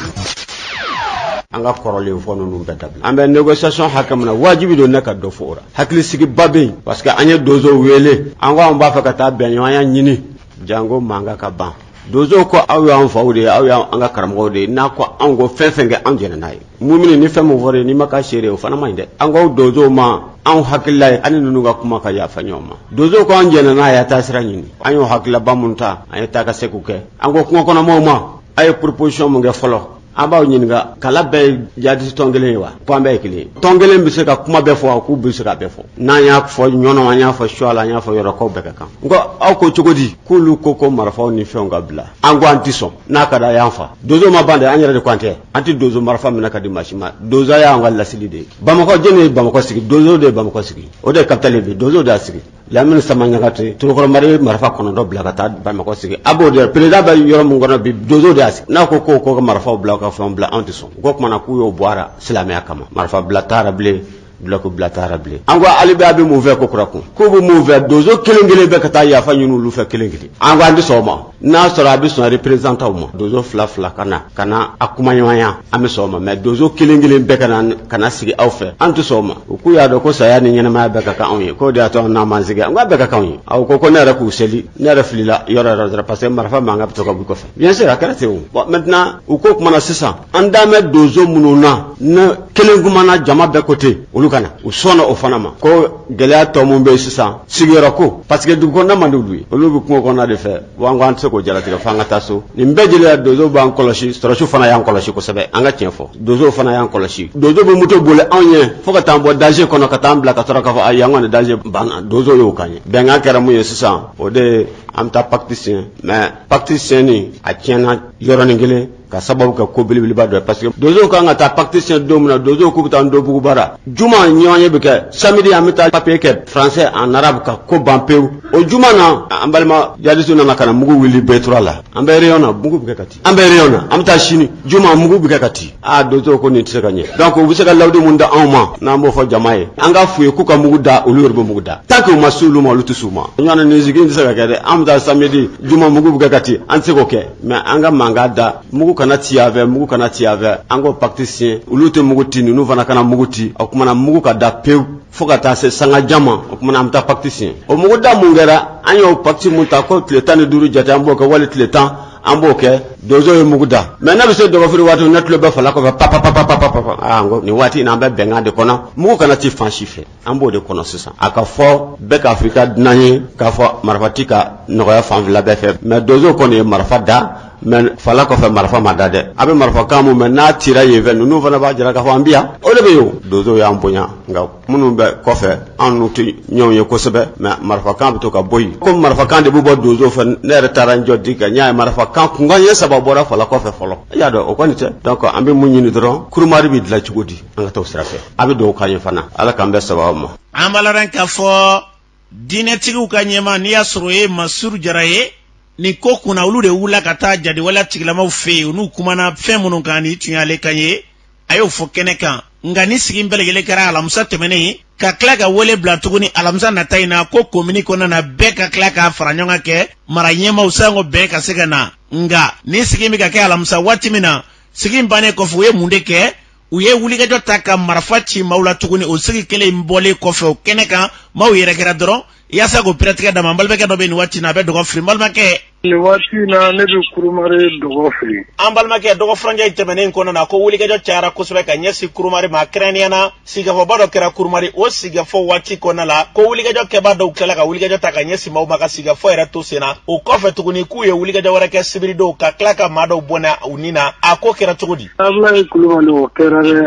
an ka kɔrɔlen fɔ ninnu bɛɛ dabila an bɛ négociation hakɛ min na wajibi don ne ka dɔ fɔ o la hakilisigiba bɛ yen parce que an ye donso wele an ko an b'a fɛ ka taa bɛnɲɔgɔnya ɲini janko mankan ka ban donso ko aw y'an faw de ye aw y'an ka karamɔgɔw de ye n'a ko anw ko fɛn o fɛn kɛ anw jɛnna n'a ye mumini ni fɛn min fɔra i ye n'i ma k'a seere o fana man ɲi dɛ an ko donso ma anw hakilila ye an ni ninnu ka kuma ka yafa ɲɔgɔn ma donso ko an jɛnna n'a ye a taa sira ɲini an y'o hakililaba minnu ta an ye taa ka se k'u kɛ an ko kungo kɔnɔmaw ma a ye proposition min kɛ fɔlɔ an b'aw ɲininka kala bɛɛ ye jadisi tɔn kelen ye wa ko an bɛɛ ye kelen ye tɔn kelen bɛ se ka kuma bɛɛ fɔ k'u bɛ se ka bɛɛ fɔ n'an y'a fɔ ɲɔnɔ an y'a fɔ suwala an y'a fɔ yɔrɔ ko bɛɛ ka kan n ko aw ko cogo di k'olu ko ko marifaw ni fɛnw ka bila an ko an tɛ sɔn n'a ka da y'an fa donso ma ban dɛ an yɛrɛ de ko an tɛ an tɛ donso marifa minɛ ka di maa si ma donso y'an ka lasili de ye bamakɔ jɛnɛ ye bamakɔ sigi donso de ye bamakɔ sigi o de ye kapitali bi donso de y'a sigi lamini sama ɲagate torokɔrɔmari ye marifa kɔnɔntɔn bila ka taa bamakɔ sigi a b'o de perezida bɛ yɔrɔ min kɔnɔ bi dozo de y'a sigi n'a ko k'o k'o ka marifaw bila ka fɛnw bila anw tɛ sɔn o ko kumana k'u y'o bɔ a ra silamɛya kama marifa bila t'a ra bilen dulɔki bila t'a ra bilen an ko hali bi a bɛ mun fɛ kokura ko k'u bɛ mun fɛ dozo kelen kelen bɛɛ ka taa yafa ɲini olu fɛ kelen kelen an ko an tɛ sɔn o ma n'a sɔrɔ a bɛ sɔn représentants ma donso fila fila ka na ka na a kumaɲɔgɔnya an bɛ sɔn o ma mais donso kelen kelen bɛɛ ka na ka na sigi aw fɛ an tɛ sɔn o ma u k'u y'a dɔn ko saya ni ɲɛnamaya bɛɛ ka kan anw ye k'o de y'a to an n'an m'an sigi an k'a bɛɛ ka kan anw ye awɔ ko ko ne yɛrɛ k'u seli ne yɛrɛ filila yɔrɔ yɔrɔ yɛrɛ parce que marifa mankan bɛ to ka bɔ kɔfɛ bien sûr a kɛra ten o bon maintenant o ko kumana sisan an dalen bɛ donso minnu na ni kelen kumana jama bɛɛ ko ten olu ka na u sɔnna o fana ma ko gɛlɛya tɔ min bɛ sisan sigiyɔrɔ ko parce que dugu kɔnɔna man di olu ye olu bɛ kungo kɔnɔna de fɛ wa an ko an tɛ se k'o jalatigɛ fo an ka taa so nin bɛɛ jeliya dozo b'an kɔlɔsi sɔrɔsiw fana y'an kɔlɔsi kosɛbɛ an ka tiɲɛ fɔ dozow fana y'an kɔlɔsi dozo bɛ moto boli anw ye fo ka t'an bɔ danger kɔnɔ ka t'an bila ka sɔrɔ k'a fɔ ayi an kɔni danger banna dozo y'o k'an ye bɛnkan kɛra mun ye sisan o de ye an bɛ taa pacte siɲɛ mais pacte siɲɛni a tiɲɛna yɔrɔnin kelen ka sababu kɛ ko belebeleba dɔ ye parce que donsow k'an ka taa pacte siɲɛ don min na donsow k'u bɛ taa ndobugu bara juma ɲɔgɔnye bɛ kɛ samedi an bɛ taa papier kɛ français en arabe ka ko ban pewu o juma na an balima jadisiw nana ka na mugu wuli betura la an bɛ réunion na mugu bɛ kɛ ka ti an bɛ réunion na an bɛ taa sini juma mugu bɛ kɛ ka ti aa donsow ko nin tɛ se ka ɲɛ donc u bɛ se ka layidu mun da anw ma n'an b'o fɔ jama ye an ka f'u ye k'u ka mugu da olu yɛrɛ bɛ mugu da tant que u ma s'olu ma olu tɛ s'u ma ɲɔgɔn nin sigi in tɛ se ka kɛ dɛ an bɛ taa samedi juma mugu bɛ kɛ ka ti an tɛ se k'o kɛ mɛ an ka mankan da mugu kana ci yan fɛ mugu kana ci yan fɛ an k'o pakiti siɲɛ olu tɛ mugu ci ninnu fana kana mugu ci o kumana mugu ka da pewu fo ka taa se sanga jan ma o kumana an bɛ taa pakiti siɲɛ o mugu da mun kɛra an y'o pakiti mun ta ko tile tan ni duuru jate an b'o kɛ wali tile tan an b'o kɛ donso ye mugu da mɛ ne bɛ se dɔgɔfiri waati ne tulo bɛ fala kɔfɛ papapapapapa aa n ko nin waati in na an bɛ bɛnkan de kɔnɔ mugu kana ci fan si fɛ an b'o de kɔnɔ sisan a k'a fɔ bɛɛ k'a fɔ i ka dunan ye k'a fɔ marifa ti ka nɔgɔya fan fila bɛɛ fɛ mɛ donso kɔni ye marifa da mɛ fala kɔfɛ marifa ma da dɛ a bɛ marifa kan mun mɛn n'a cira yen fɛ ninnu fana b'a jira k'a fɔ an bɛ yan o de bɛ yen donso y'an bonya nka minnu bɛ kɔfɛ an n'u tɛ ɲɔgɔn ye kosɛbɛ mɛ marifa kan bɛ to ka bɔ yen ko marifa kan de bɛ bɔ donso fɛ ne yɛrɛ taara n jɔ digi kan n y'a ye marifa kan kunkan ye saba bɔra fala kɔfɛ fɔlɔ i y'a dɔn o kɔni tɛ donc an bɛ mun ɲini dɔrɔn kurumari bɛ dilan cogo di an ka t'o sira fɛ a bɛ dɔ k'an ye fana ala k'an bɛɛ sababu ma an balala k'a fɔ diinɛtigiw ka ɲɛmaa n'i y'a sɔrɔ o ye masuru jara ye nin ko kunna olu de wulila ka taa jadiwala tigilamaw fɛ yen n'u kumana fɛn minnu kan nin tun y'ale kan ye a y'o fɔ kɛnɛ kan nka ni sigi bɛɛ lajɛlen kɛra alamisa tɛmɛnen ka tila ka wele bila tuguni alamisa nata in na ko komini kɔnɔna na bɛɛ ka tila ka faraɲɔgɔnkan kɛ mara ɲɛmaaw sanko bɛɛ ka se ka na nka ni sigi bɛ ka kɛ alamisa waati min na sigi bannen kɔfɛ u ye mun de kɛ u ye wulikajɔ ta ka marafa ci maaw la tuguni o sigi kelen in bɔlen kɔfɛ o kɛnɛ kan maaw yɛrɛkɛra dɔrɔn yaasa k'o pratikɛ dama n balimakɛ dɔ bɛ nin waati na a bɛ dɔgɔfiri n balimakɛ nin waati na ne bɛ kurumari dɔgɔfiri an balimakɛ dɔgɔ furancɛ tɛmɛnen kɔnɔ na ko wulikajɔ cayara kosɛbɛ ka ɲɛsin kurumari ma kɛrɛnnenya na sigikafɔba dɔ kɛra kurumari o sigikafɔ waati kɔnɔna la ko wulikajɔ kɛbaa dɔw tilala ka wulikajɔ ta ka ɲɛsin maaw ma ka sigikafɔ yɛrɛ to sen na o kɔfɛ tuguni k'u ye wulikajɔ wɛrɛ kɛ sibiridon ka tila ka maa dɔw bɔnɛ u ni na a ko kɛra cogo di Abulayi kulubali o kɛra dɛ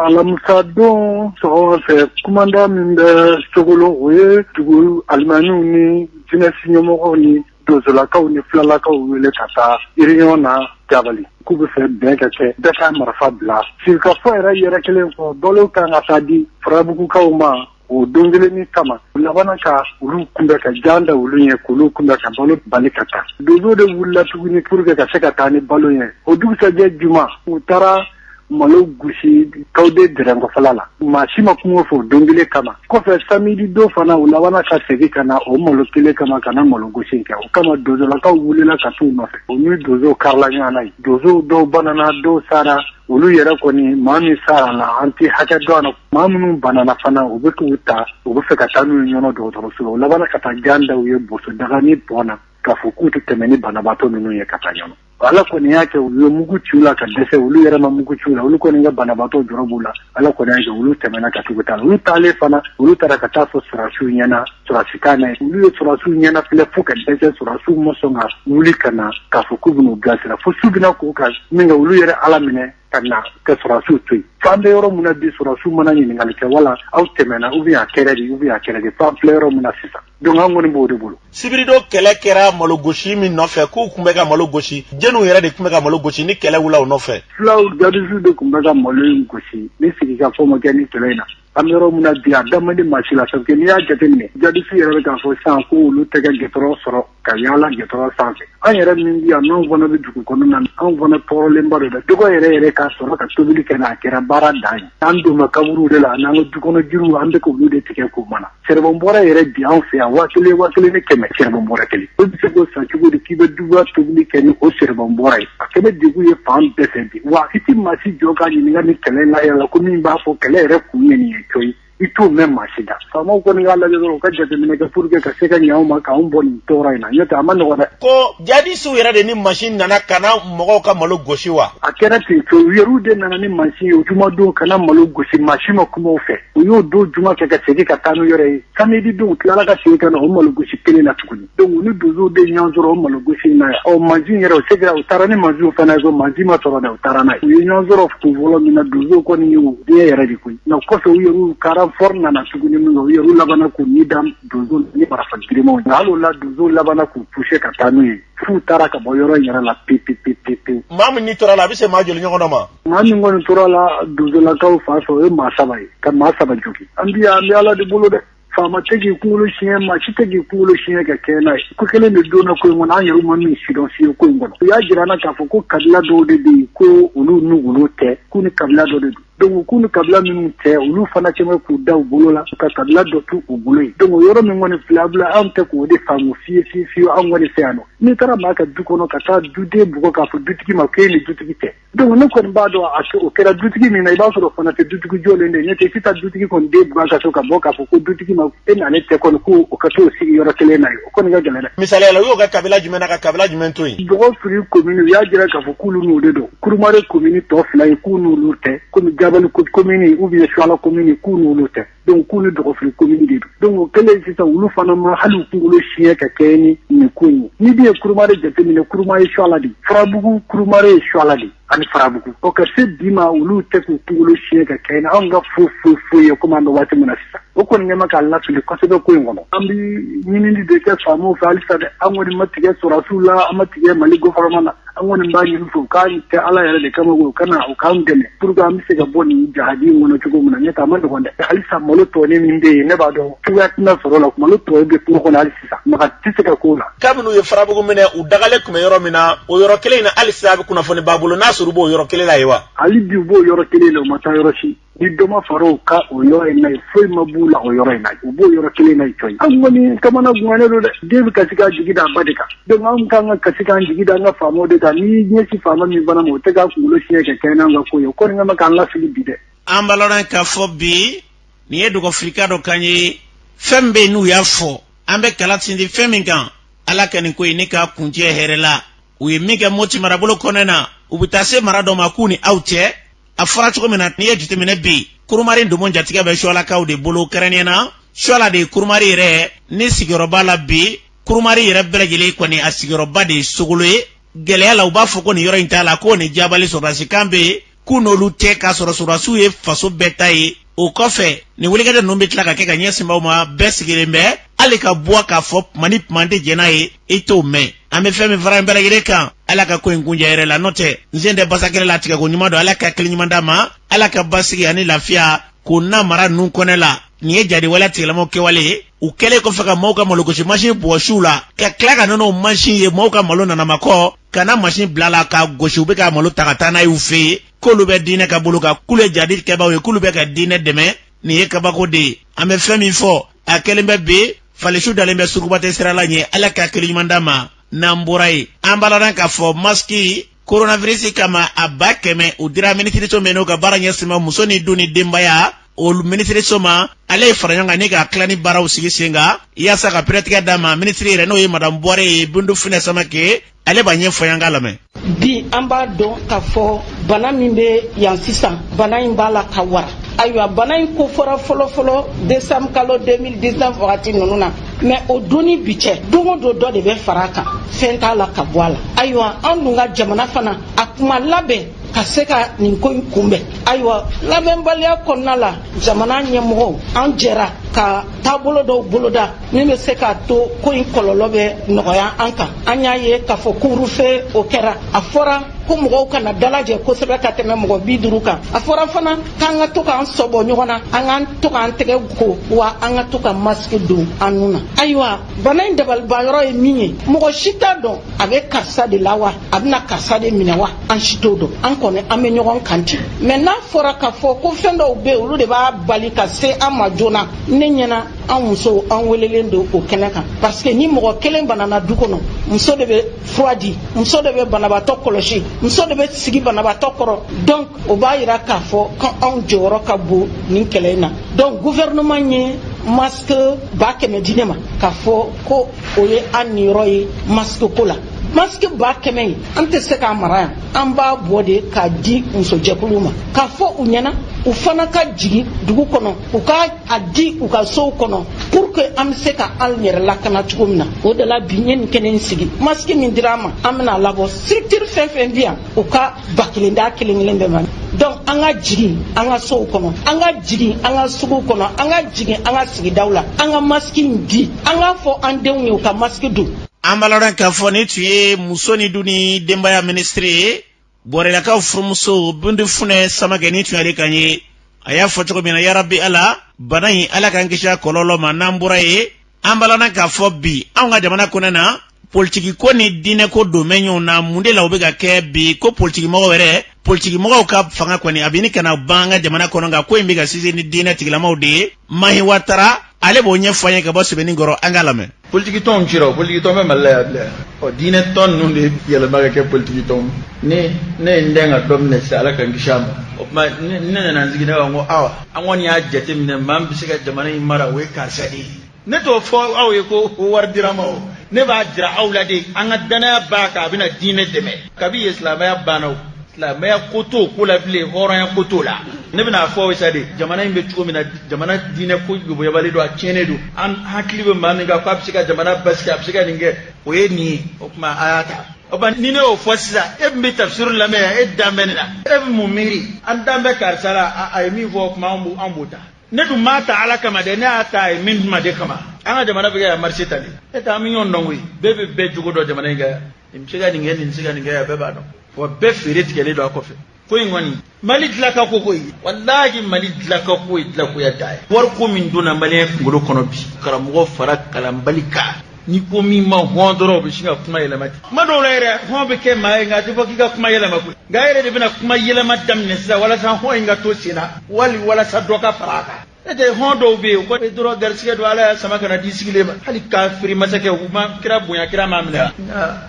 alamusadon sɔgɔma fɛ kumandan min bɛ sogolo o ye dugu alimamiw ni jinɛsi ɲɛmɔgɔw ni donsolakaw ni filalakaw wele ka taa réunion na jabali k'u bɛ fɛ bɛn ka kɛ bɛɛ ka marifa bila sigikafɔ yɛrɛ yɛrɛ kɛlen kɔ balo ka kan ka taa di farabugukaw ma o don kelen in kama u labanna ka olu kunbɛn ka jan da olu ye k'olu kunbɛn ka balo bali ka taa donso de wulila tuguni pour que ka se ka taa ni balo ye o dugusajɛ juma u taara malo gosi kawde dɛrɛnkɔfala la maa si ma kuma u fɛ o don kelen kama kɔfɛ samidi don fana u labanna ka segi ka na o malo kelen kama ka na malo gosi kɛ o kama donsolakaw wulila ka t'u nɔfɛ u ni donsow karila ɲɔgɔn na yen donsow dɔw banana dɔw sara olu yɛrɛ kɔni maa min sara la an t'a hakɛ dɔn na maa minnu banana fana u bɛ k'u ta u bɛ fɛ ka taa n'u ye ɲɔnɔ dɔgɔtɔrɔso la u labanna ka taa jan da u ye boso daga ni bɔn na k'a fɔ k'u tɛ tɛmɛ ni banabaatɔ ninnu ye ka taa ɲɔnɔ ala kɔni y'a kɛ u ye mugu ci u la ka dɛsɛ olu yɛrɛ ma mugu ci u la olu kɔni ka banabaatɔ jɔrɔ b'u la ala kɔni y'a kɛ olu tɛmɛna ka tugu taa olu taalen fana olu taara ka taa fɔ sɔrɔdasiw ɲɛna sɔrɔdasi kan na yen olu ye sɔrɔdasiw ɲɛnafilɛ fo ka dɛsɛ sɔrɔdasiw ma sɔn ka wuli ka na k'a fɔ k'u bɛn'u bilasira fo su bɛna ko u kan min kɛ olu yɛrɛ ala minɛ ka na ka sɔrɔdasiw to yen fo an bɛ yɔrɔ min na bi sɔrɔdasiw ma na ɲininkali kɛ wala aw tɛmɛna u bɛ y'a kɛra di u bɛ y'a kɛra di fo an filɛ yɔrɔ min na sisan donc an kɔni b'o de bolo sibiridon kɛlɛ kɛra malo gosi min nɔfɛ k'u tun bɛ ka malo gosi jeniw yɛrɛ de tun bɛ ka malo gosi ni kɛlɛ wulila u nɔfɛ fulaw jadisiw de tun bɛ ka malo in gosi ni sigikafɔ ma kɛ nin kɛlɛ in na An bɛ yɔrɔ min na bi a da man di maa si la parce que n'i y'a jate minɛ jadisiw yɛrɛ bɛ k'a fɔ sisan ko olu tɛ ka gitɔrɔn sɔrɔ ka yaala gitɔrɔn sanfɛ an yɛrɛ min bɛ yan n'anw fana bɛ dugu kɔnɔ na anw fana tɔɔrɔlenba don dɛ dɔgɔ yɛrɛ yɛrɛ k'a sɔrɔ ka tobili kɛ a kɛra baara dan ye an don makaburu de la n'an ka dukɔnɔ jiriw an bɛ k'olu de tigɛ k'o mana sɛrɛbɔn bɔrɛ yɛrɛ bi an fɛ yan waa kelen waa kelen ni kɛmɛ sɛrɛbɔn bɔrɛ kelen o bɛ se k'o san cogo di k'i bɛ duba tobili kɛ ni o sɛrɛbɔn bɔrɛ ye a ko bɛɛ degun ye fan bɛɛ fɛ bi wa i tɛ maa si jɔ ka ɲininka nin kɛlɛ in na yɛrɛ la ko min b'a fɔ kɛlɛ yɛrɛ kun ye nin ye cɔyi i t'o mɛn maa si da faamaw kɔni k'a lajɛ dɔrɔn u ka jateminɛ kɛ pour que ka se ka ɲɛ anw ma k'anw bɔ nin tɔɔrɔ in na n'o tɛ a ma nɔgɔ dɛ ko jadisiw yɛrɛ de ni mansin nana ka na mɔgɔw ka malo gosi wa a kɛra ten cɔ u yɛrɛw de nana ni mansin ye o jumadon ka na malo gosi mansin ma kuma u fɛ u y'o don juma kɛ ka segin ka taa n'u yɛrɛ ye samedi don u tilala ka segin ka na o malogosi kelen na tuguni donc u ni donsow de ɲɔgɔn sɔrɔ o malogosi in na yan ɔ mansin yɛrɛ u segira u taara ni mansinw fana ye ko mansin ma sɔrɔ dɛ u taara n'a ye u ye ɲɔgɔn sɔrɔ ko fɔlɔ min na donsow kɔni ye u diɲɛ yɛrɛ de koyi nka kɔfɛ u yɛrɛw ka renfort nana tuguni minkɛ u yɛrɛw labana k'u ni da donsow ni marafa girimanw nka hali o la donsow labana k'u puse ka taa n'u ye f'u taara ka bɔ yɔrɔ in yɛrɛ la pepepepepewu maa minnu tor'a la a bɛ se maa joli ɲɔgɔn dɔ ma Maa min kɔni tor'a la donsolakaw fan fɛ o ye maa saba ye ka maa saba jogin an bi an bɛ ala de bolo dɛ faama tɛ k'i kunkolo siɲɛ maa si tɛ k'i kunkolo siɲɛ ka kɛ n'a ye ko kelen de donna ko in kɔnɔ an yɛrɛ ma min sidɔn fiye ko in kɔnɔ u y'a jira an na k'a fɔ ko kabila dɔw de bɛ yen ko olu n'olu tɛ k'u ni kabila dɔ de don donc k'u ni kabila minnu tɛ olu fana cɛ k'u da u bolo la ka kabila dɔ to u bolo ye donc o yɔrɔ min kɔni filabila anw tɛ k'o de faamu fiye fiye fiye anw kɔni fɛ yan nɔ n'i taara maa ka du kɔnɔ ka taa duden bugɔ k'a fɔ dutigi ma k'e ni dutigi tɛ Donc ne kɔni b'a dɔn o kɛra dutigi min na i b'a sɔrɔ fana tɛ dutigi jɔlen de ne tɛ se ka dutigi kɔni den bugɔ ka sɔrɔ ka bɔ k'a fɔ ko dutigi ma e na ne tɛ kɔni ko o ka to sigi yɔrɔ kelen na o kɔni ka gɛlɛn misali la y'o ka kabila jumɛn na ka kabila jumɛn to yen dɔgɔfiri komini u y'a jira k'a fɔ k'olu n'u de don kurumari komini tɔ fila ye k'u n'olu tɛ kɔmi jabali komini ye ou bien suwala komini ye k'u n'olu tɛ dɔnku k'u ni dɔgɔfiri komini de don dɔnku o kɛlen sisan olu fana ma hali u kunkolo siɲɛ ka kɛɲɛ ni nin ko ye ni bi i ye kurumare jateminɛ kuruma ye suwala de farabugu kurumare ye suwala de ani farabugu o ka se bi ma olu tɛ k'u kunkolo siɲɛ ka kɛɲɛ ni anw ka fo foyi foyi ye komi an bɛ waati min na sisan o kɔni ɲɛma k'an lafili kosɛbɛ ko in kɔnɔ an bɛ ɲinini de kɛ faamaw fɛ halisa dɛ an kɔni ma tigɛ sɔrɔdasiw la an ma tigɛ mali gɔfɛrɛnaman na an kɔni b'a ɲini u fɛ u k'a kɛ ala yɛrɛ de kama u ka na u k'an dɛmɛ pur que an bɛ se ka bɔ nin jahadi in kɔnɔ cogo min na n'o tɛ a ma nɔgɔn dɛ halisa malo tɔɔni min bɛ yen ne b'a dɔn cogoya tɛna sɔrɔ a la malo tɔ bɛ kungo kɔnɔ hali sisan maga tɛ se ka k'o la kabini u ye farabugu minɛ u dagalen tun bɛ yɔrɔ min na o yɔrɔ kelen in na hali sisan a bɛɛ kunnafoni b'an bolo n'a sɔrɔ u b'o yɔrɔ kelen la yen wa hali bi u b'o yɔrɔ kelen la u ma taa yɔrɔ si ni dɔ ma fara u kan o yɔrɔ in na foyi ma b'u la o yɔrɔ in na u b'o yɔrɔ kelen na cɔyi an kɔni kamanagannen don dɛ den bɛ kasi k'a jigi da a ba de kan donc an kan ka kasi k'an jigi da an ka faamaw de kan n'i ɲɛsin faama min fana ma o tɛ k'a kunkolo siɲɛ ka kɛɲɛ n'an ka ko ye o kɔni kama k'an lafili bi dɛ an balɔrɔ k'a fɔ bi nin ye dɔgɔfirika dɔ kan ye fɛn min bɛ yen n'u y'a fɔ an bɛ k'a lasinsin fɛn min kan ala ka nin ko in ɲɛ k'a kuncɛ hɛrɛ la u ye min kɛ moti marabolo kɔnɛ na u bɛ taa se mara dɔ ma k'u ni aw cɛ a fɔra cogo min na n'i y'a jateminɛ bi kurumari domo jatigɛ bɛ sualakaw de bolo kɛrɛnnen na suala de ye kurumari yɛrɛ ni sigiyɔrɔba la bi kurumari yɛrɛ bɛɛ lajɛlen kɔni a sigiyɔrɔba de ye sogolo ye gɛlɛya la u b'a fɔ ko nin yɔrɔ in t'a la ko nin jabali sɔrɔdasikan bɛ yen k'u n'olu cɛ k'a sɔrɔ sɔrɔdasiw ye faso bɛɛ ta ye o kɔfɛ nin wulikajɔ ninnu bɛ tila ka kɛ ka ɲɛsin maaw ma bɛɛ sigilen bɛ hali ka bɔ k'a fɔ tuma ni tuma tɛ jɛn'a ye i t'o mɛn an bɛ fɛn min fara bɛɛ lajɛlen kan ala ka ko in kuncɛ hɛrɛ la n'o tɛ n sen tɛ basakɛlɛ la tigɛko ɲuman don ala ka hakili ɲuman d'an ma ala ka basigi ani lafiya k'o na mara ninnu kɔnɛ la nin ye jadiwale tigilamaaw kɛwale ye u kɛlen kɔfɛ ka maaw ka malogosi mansin bɔsi u la ka tila ka na n'o mansin ye maaw ka malo nanamakɔ ka na masin bil'a la k'a gosi u bɛ ka malo ta ka taa n'a y'u fɛ yen k'olu bɛ diinɛ ka bolo kan k'ulu ye jadi kɛbaaw ye k'ulu bɛ ka diinɛ dɛmɛ nin ye kabako de ye an bɛ fɛn min fɔ a kɛlen bɛ bi fali suw dalen bɛ sugubate sira la ɲɛ ala ka hakili ɲuman d'an ma n'an bɔra yen an b'a laban k'a fɔ masiki koronavirisi kama a ba kɛmɛ u dira minisiriso min n'o ka baara ɲɛsinna muso ni du ni denbaya olu minisiriso ma ale ye faraɲɔgɔnkan in ka tilani baaraw sigi sen kan yaasa ka pɛrɛtigɛ d'a ma minisiri yɛrɛ n'o ye madamu buware ye bintu funɛ samake ale b'a ɲɛfɔ an k'a lamɛn bi an b'a dɔn k'a fɔ bana min bɛ yan sisan bana in b'a la ka wara ayiwa bana in ko fɔra fɔlɔfɔlɔ desanbu kalo 2019 wagati ninnu na mɛ o don ni bi cɛ don o don dɔ de bɛ fara a kan fɛn t'a la ka bɔ a la ayiwa an dun ka jamana fana a tun ma labɛn ka se ka nin ko in kunbɛn ayiwa labɛnbaliya kɔnɔna la jamana ɲɛmɔgɔw an jɛra ka taabolo dɔw boloda min bɛ se k'a to ko in kɔlɔlɔ bɛ nɔgɔya an kan an y'a ye k'a fɔ kurufe o kɛra a fɔra ko mɔgɔw kana dalajɛ kosɛbɛ ka tɛmɛ mɔgɔ bi duuru kan a fɔra fana k'an ka to k'an sɔbɔ ɲɔgɔn na an ka to k'an tɛgɛ ko wa an ka to ka masiki don an nu na ayiwa bana in dabalibanyɔrɔ ye min ye mɔgɔ si t'a dɔn a bɛ karisa de la wa a bɛna karisa de minɛ wa an si t'o dɔn an kɔni an bɛ ɲɔgɔn kan ten mɛ n'a fɔra k'a fɔ ko fɛn dɔw bɛ yen olu de b'a bali ka se an ma joona ne ɲɛna an musow an welelen don o kɛnɛ kan parce que ni mɔgɔ kelen banana du kɔnɔ muso de bɛ fura di muso de bɛ banabaatɔ kɔlɔsi muso de bɛ sigi banabaatɔ kɔrɔ donc o b'a jira k'a fɔ ko anw jɔyɔrɔ ka bon nin kɛlɛ in na donc gouvernement ye masque ba kɛmɛ di ne ma k'a fɔ ko o ye an niyɔrɔ ye masque ko la masque ba kɛmɛ in an tɛ se k'a mara yan an b'a bɔ de k'a di musojɛkuluw ma k'a fɔ u ɲɛna u fana ka jigin dugu kɔnɔ u ka a di u ka sow kɔnɔ pour que an bɛ se ka an yɛrɛ lakana cogo min na o de la bi n ye nin kɛnɛ in sigi masque min dira an ma an bɛna a labɔ structure fɛn fɛn bɛ yan u ka ba kelen da kelen kelen bɛɛ ma donc an ka jigin an ka sow kɔnɔ an ka jigin an ka suguw kɔnɔ an ka jigin an ka sigidaw la an ka masiki di an k'a fɔ an denw ye u ka masiki don an b'a lɔn k'a fɔ nin tun ye muso ni du ni denbaya minisiri ye buwarelakaw furumuso bintu funɛ samakɛ nin tun y'ale kan ye a y'a fɔ cogo min na yarabi ala bana in ala k'an kisi a kɔlɔlɔ ma n'an bɔra yen an balana k'a fɔ bi anw ka jamana kɔnɔna politiki ko ni diinɛ ko donnen bɛ ɲɔgɔn na mun de la o bɛ ka kɛ bi ko politiki mɔgɔw yɛrɛ politiki mɔgɔw ka fanga kɔni a bɛ ɲini ka na ban an ka jamana kɔnɔ nka ko in bɛ ka sinsin ni diinɛ tigilamaw de ye mahi watara ale b'o ɲɛfɔ an ye ka bɔ sebenikɔrɔ an k'a lamɛn politiki tɔnw cira o politiki tɔn bɛ mali la yan bilen ɔ diinɛ tɔn ninnu de yɛlɛma ka kɛ politiki tɔn ne ne ye n dɛn ka dɔ minɛ sisan ala ka n kisi a ma o tuma ne nana n sigi ne b'a fɔ ko awa an kɔni y'a jateminɛ maa min bɛ se ka jamana in mara o ye karisa de ye ne t'o fɔ aw ye ko ko wari dira n ma o ne b'a jira aw la de an ka danaya b'a kan a bɛna diinɛ dɛmɛ kabi ye silamɛya banna o silamɛya ko t'o ko la bilen hɔrɔnya ko t'o la ne bɛna a fɔ aw ye sa de jamana in bɛ cogo min na jamana diinɛ ko yoboyabalen don a tiɲɛnen don an hakili bɛ maa min kan k'a bɛ se ka jamana basigi a bɛ se ka nin kɛ o ye nin ye o tuma a y'a ta o ba ni ne y'o fɔ sisan e tun bɛ tafsir lamɛn yan e dan bɛ ne la e bɛ mun miiri an dan bɛ karisa la a ye min fɔ kuma an b'o ta ne dun m'a ta ala kama dɛ ne y'a ta a ye min ma de kama an ka jamana bɛ kɛ yan marché tan de e ta an bɛ ɲɔgɔn dɔn koyi bɛɛ bɛ bɛɛ jogo dɔn jamana in kan yan nin bɛ se ka nin kɛ nin bɛ se ka nin kɛ yan bɛɛ b'a dɔn wa bɛɛ feere tigɛlen don a kɔfɛ ko in kɔni mali dila ka ko koyi walahi mali dila ka ko ye dilakoya da ye wari ko min donna maliyɛn kunkolo kɔnɔ bi karamɔgɔ fara kalanbali kan n'i ko min ma hɔn dɔrɔn o bɛ sin ka kuma yɛlɛma ten kuma dɔw la yɛrɛ hɔn bɛ kɛ maa ye nka a tɛ fɔ k'i ka kuma yɛlɛma koyi nka a yɛrɛ de bɛna kuma yɛlɛma daminɛ sisan walasa hɔn in ka to sen na wali walasa dɔ ka fara a kan n'o tɛ hɔn dɔw bɛ yen ko e dɔrɔn garisigɛ don ala y'a sama ka n'a di sigilen ma hali kafiri masakɛw ma kira bonya kira m'a minɛ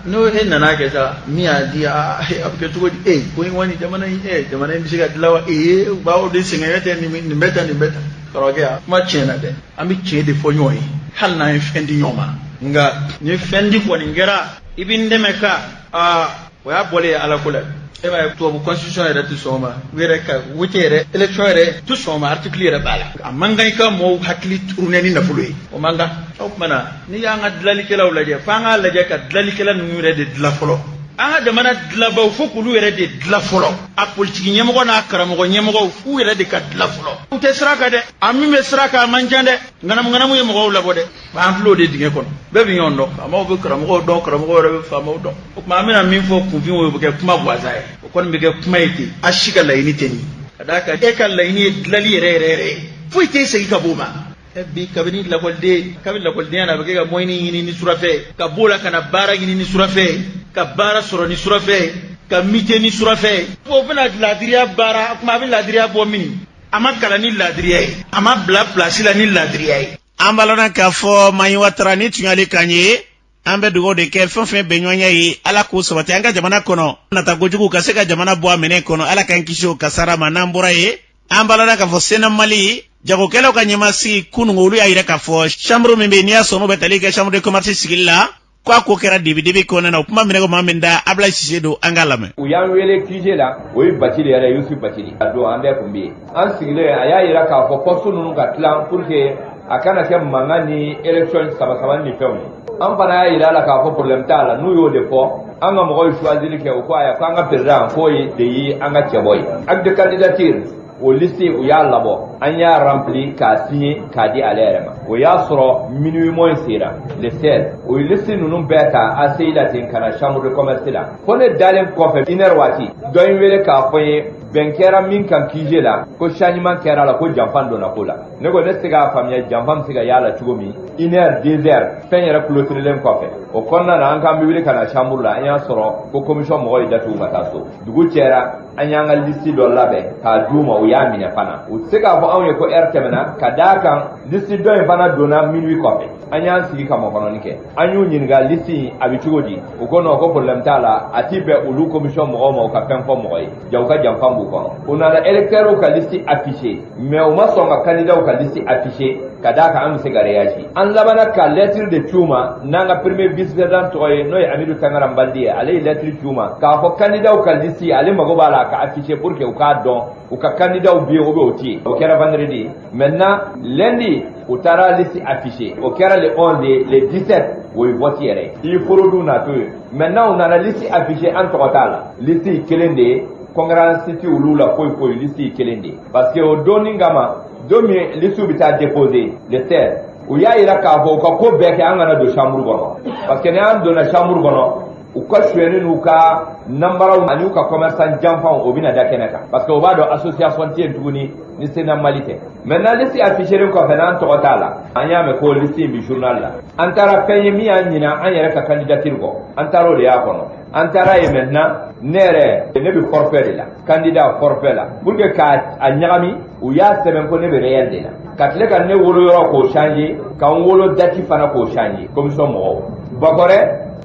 n'o e nana kɛ sa min y'a di a bɛ kɛ cogo di e ko in kɔni jamana in e jamana in bɛ se ka dilan wa ee u b'aw de sɛgɛn tɛ nin bɛ tan nin bɛ tan kɔrɔkɛ a kuma tiɲɛna dɛ an bɛ tiɲɛ de fɔ ɲɔgɔn ye hali n'an ye fɛn di ɲɔgɔn ma nka ni fɛn di kɔni kɛra i bɛ n dɛmɛ ka aa o y'a bɔlen ye ala ko la e b'a ye tubabu constitution yɛrɛ tɛ sɔn o ma u yɛrɛ ka wote yɛrɛ election yɛrɛ tɛ sɔn o ma article yɛrɛ b'a la a man kan i ka mɔɔw hakili turunɛ ni nafolo ye o man kan o tumana n'i y'an ka dilalikɛlaw lajɛ f'an k'a lajɛ ka dilalikɛla ninnu yɛrɛ de dilan fɔlɔ an ka jamana dilabaw fo k'olu yɛrɛ de dila fɔlɔ a politiki ɲɛmɔgɔ n'a karamɔgɔ ɲɛmɔgɔw f'u yɛrɛ de ka dila fɔlɔ u tɛ sira kan dɛ a min bɛ sira kan a man ca dɛ ŋanamuŋanamu ye mɔgɔw labɔ dɛ Ba an tulo de dingɛ kɔnɔ bɛɛ bɛ ɲɔgɔn dɔn faamaw bɛ karamɔgɔw dɔn karamɔgɔ yɛrɛ bɛ faamaw dɔn o tuma an bɛna min fɔ kunfin o bɛ kɛ kuma gansa ye o kɔni bɛ kɛ kuma ye ten a si ka laɲini tɛ nin ka d'a kan e ka laɲini ye dilanli yɛrɛ yɛrɛ yɛrɛ ye foyi tɛ se ka b'o ma bi kabini lakɔliden kabini lakɔlidenya na a bɛ kɛ ka mɔyɛni ɲini ni surafɛn ka b'o la ka na baara ɲini ni surafɛn ka baara sɔrɔ ni surafɛn ka mite ni surafɛn o bɛna laadiriya baara o tuma a bɛ laadiriya bɔ min a ma kalan ni laadiriya ye a ma bila pilasi la ni laadiriya ye an b'a lɔn na k'a fɔ maɲiwa tara ni tuɲali kan ye an bɛ dugawu de kɛ fɛn fɛn bɛnɲɔgɔnya ye ala k'o sabati an ka jamana kɔnɔ nata kojugu ka se ka jamana bɔ a minɛ kɔnɔ ala k'an kisi o kasara ma n'an bɔra yen an b'a lɔn na k'a fɔ sena mali jagokɛlaw ka ɲɛmasigi kunun ko olu y'a yira k'a fɔ chambre min bɛ n'i y'a sɔn'u bɛ tali kɛ chambre de commerce sigili la ko a ko kɛra dibidibi kɔnɔna na o kuma minɛ ko maa min da abla sise don an k'a lamɛn u y'an wele kije la o ye batili yɛrɛ yusufu batili a don an bɛɛ kun bɛ yen an sigilen a y'a yira k'a fɔ poste nunu ka tilan pour que a kana kɛ mankan ni élection saba saba ni fɛnw ye an fana y'a yira la k'a fɔ problème t'a la n'u y'o de fɔ an ka mɔgɔw ye choisili kɛ u ko aya ko an ka président k'o ye de ye an ka cɛbɔ ye acte candidature o liste u y'a labɔ an y'a rempli k'a signé k'a di ale yɛrɛ ma o y'a sɔrɔ minuit moins sera le 16 o ye liste ninnu bɛɛ ta ACI la ten ka na chambre de commerce la fo ne dalen kɔfɛ une heure waati dɔ ye n wele k'a fɔ n ye bɛn kɛra min kan kije la ko changement kɛra la ko janfan donna ko la ne ko ne se k'a faamuya janfan bɛ se ka y'a la cogo min une heure deux heures fɛn yɛrɛ kulotirilen kɔfɛ o kɔnɔna na an k'an bɛ wuli ka na chambre la an y'a sɔrɔ ko commission mɔgɔw ye da tugu ka taa so dugu jɛra an y'an ka lisi dɔ labɛn k'a d'u ma u y'a minɛ fana u tɛ se k'a fɔ anw ye ko ɛri tɛmɛna ka d'a kan lisi dɔ in fana donna minui kɔfɛ an y'an sigi ka makɔnɔni kɛ an y'u ɲininka lisi in a bɛ cogo di u ko nɔn ko porobilɛmu t'a la a tɛ bɛn olu komisiyɔn mɔgɔw ma u ka fɛn fɔ mɔgɔ ye jaa u ka janfa b'u kɔnɔ u nana elɛkitɛriw ka lisi afise mais u ma sɔn ka kandidaw ka liste afficher ka d'a kan an bɛ se ka reyaji an labanna ka lɛtiri de ci u ma n'an ka premier vice président tɔgɔ ye n'o ye amidu tangara nbandi ye ale ye lɛtiri ci u ma k'a fɔ kandidaw ka liste ale mago b'a la ka afficher pour que u k'a dɔn u ka kandidaw bɛ yen ou bien u tɛ yen o kɛra vendredi maintenant lundi u taara liste afficher o kɛra le 11 ye le 17 o ye vote yɛrɛ ye i forodun na to yen maintenant u nana liste afficher an tɔgɔ t'a la liste kelen de ye concurrence tɛ olu la foyi foyi lisi ye kelen de ye parce que o don in kama don min lisiw bɛ taa déposé le 16 u y'a yira k'a fɔ u ka ko bɛɛ kɛ an kana don chambre kɔnɔ parce que n'an donna chambre kɔnɔ u ka sonyɛni n'u ka nanbaraw an'u ka commerçant janfanw o bɛna da kɛnɛ kan parce que u b'a dɔn association tɛ yen tuguni ni sena mali tɛ maintenant lisi affichélen kɔfɛ n'an tɔgɔ t'a la an y'a mɛn ko lisi in bɛ journal la an taara fɛn ye min y'an ɲina an yɛrɛ ka candidature kɔ an taara o de y'a kɔnɔ an taar'a ye maintenant ne yɛrɛ ne bɛ forfait de la candidat forfait la pour que k'a ɲagami u y'a sɛbɛn ko ne bɛ réel de la ka tila ka ne wolo yɔrɔ k'o changer ka n wolo dati fana k'o changer commission mɔgɔw bakɔrɛ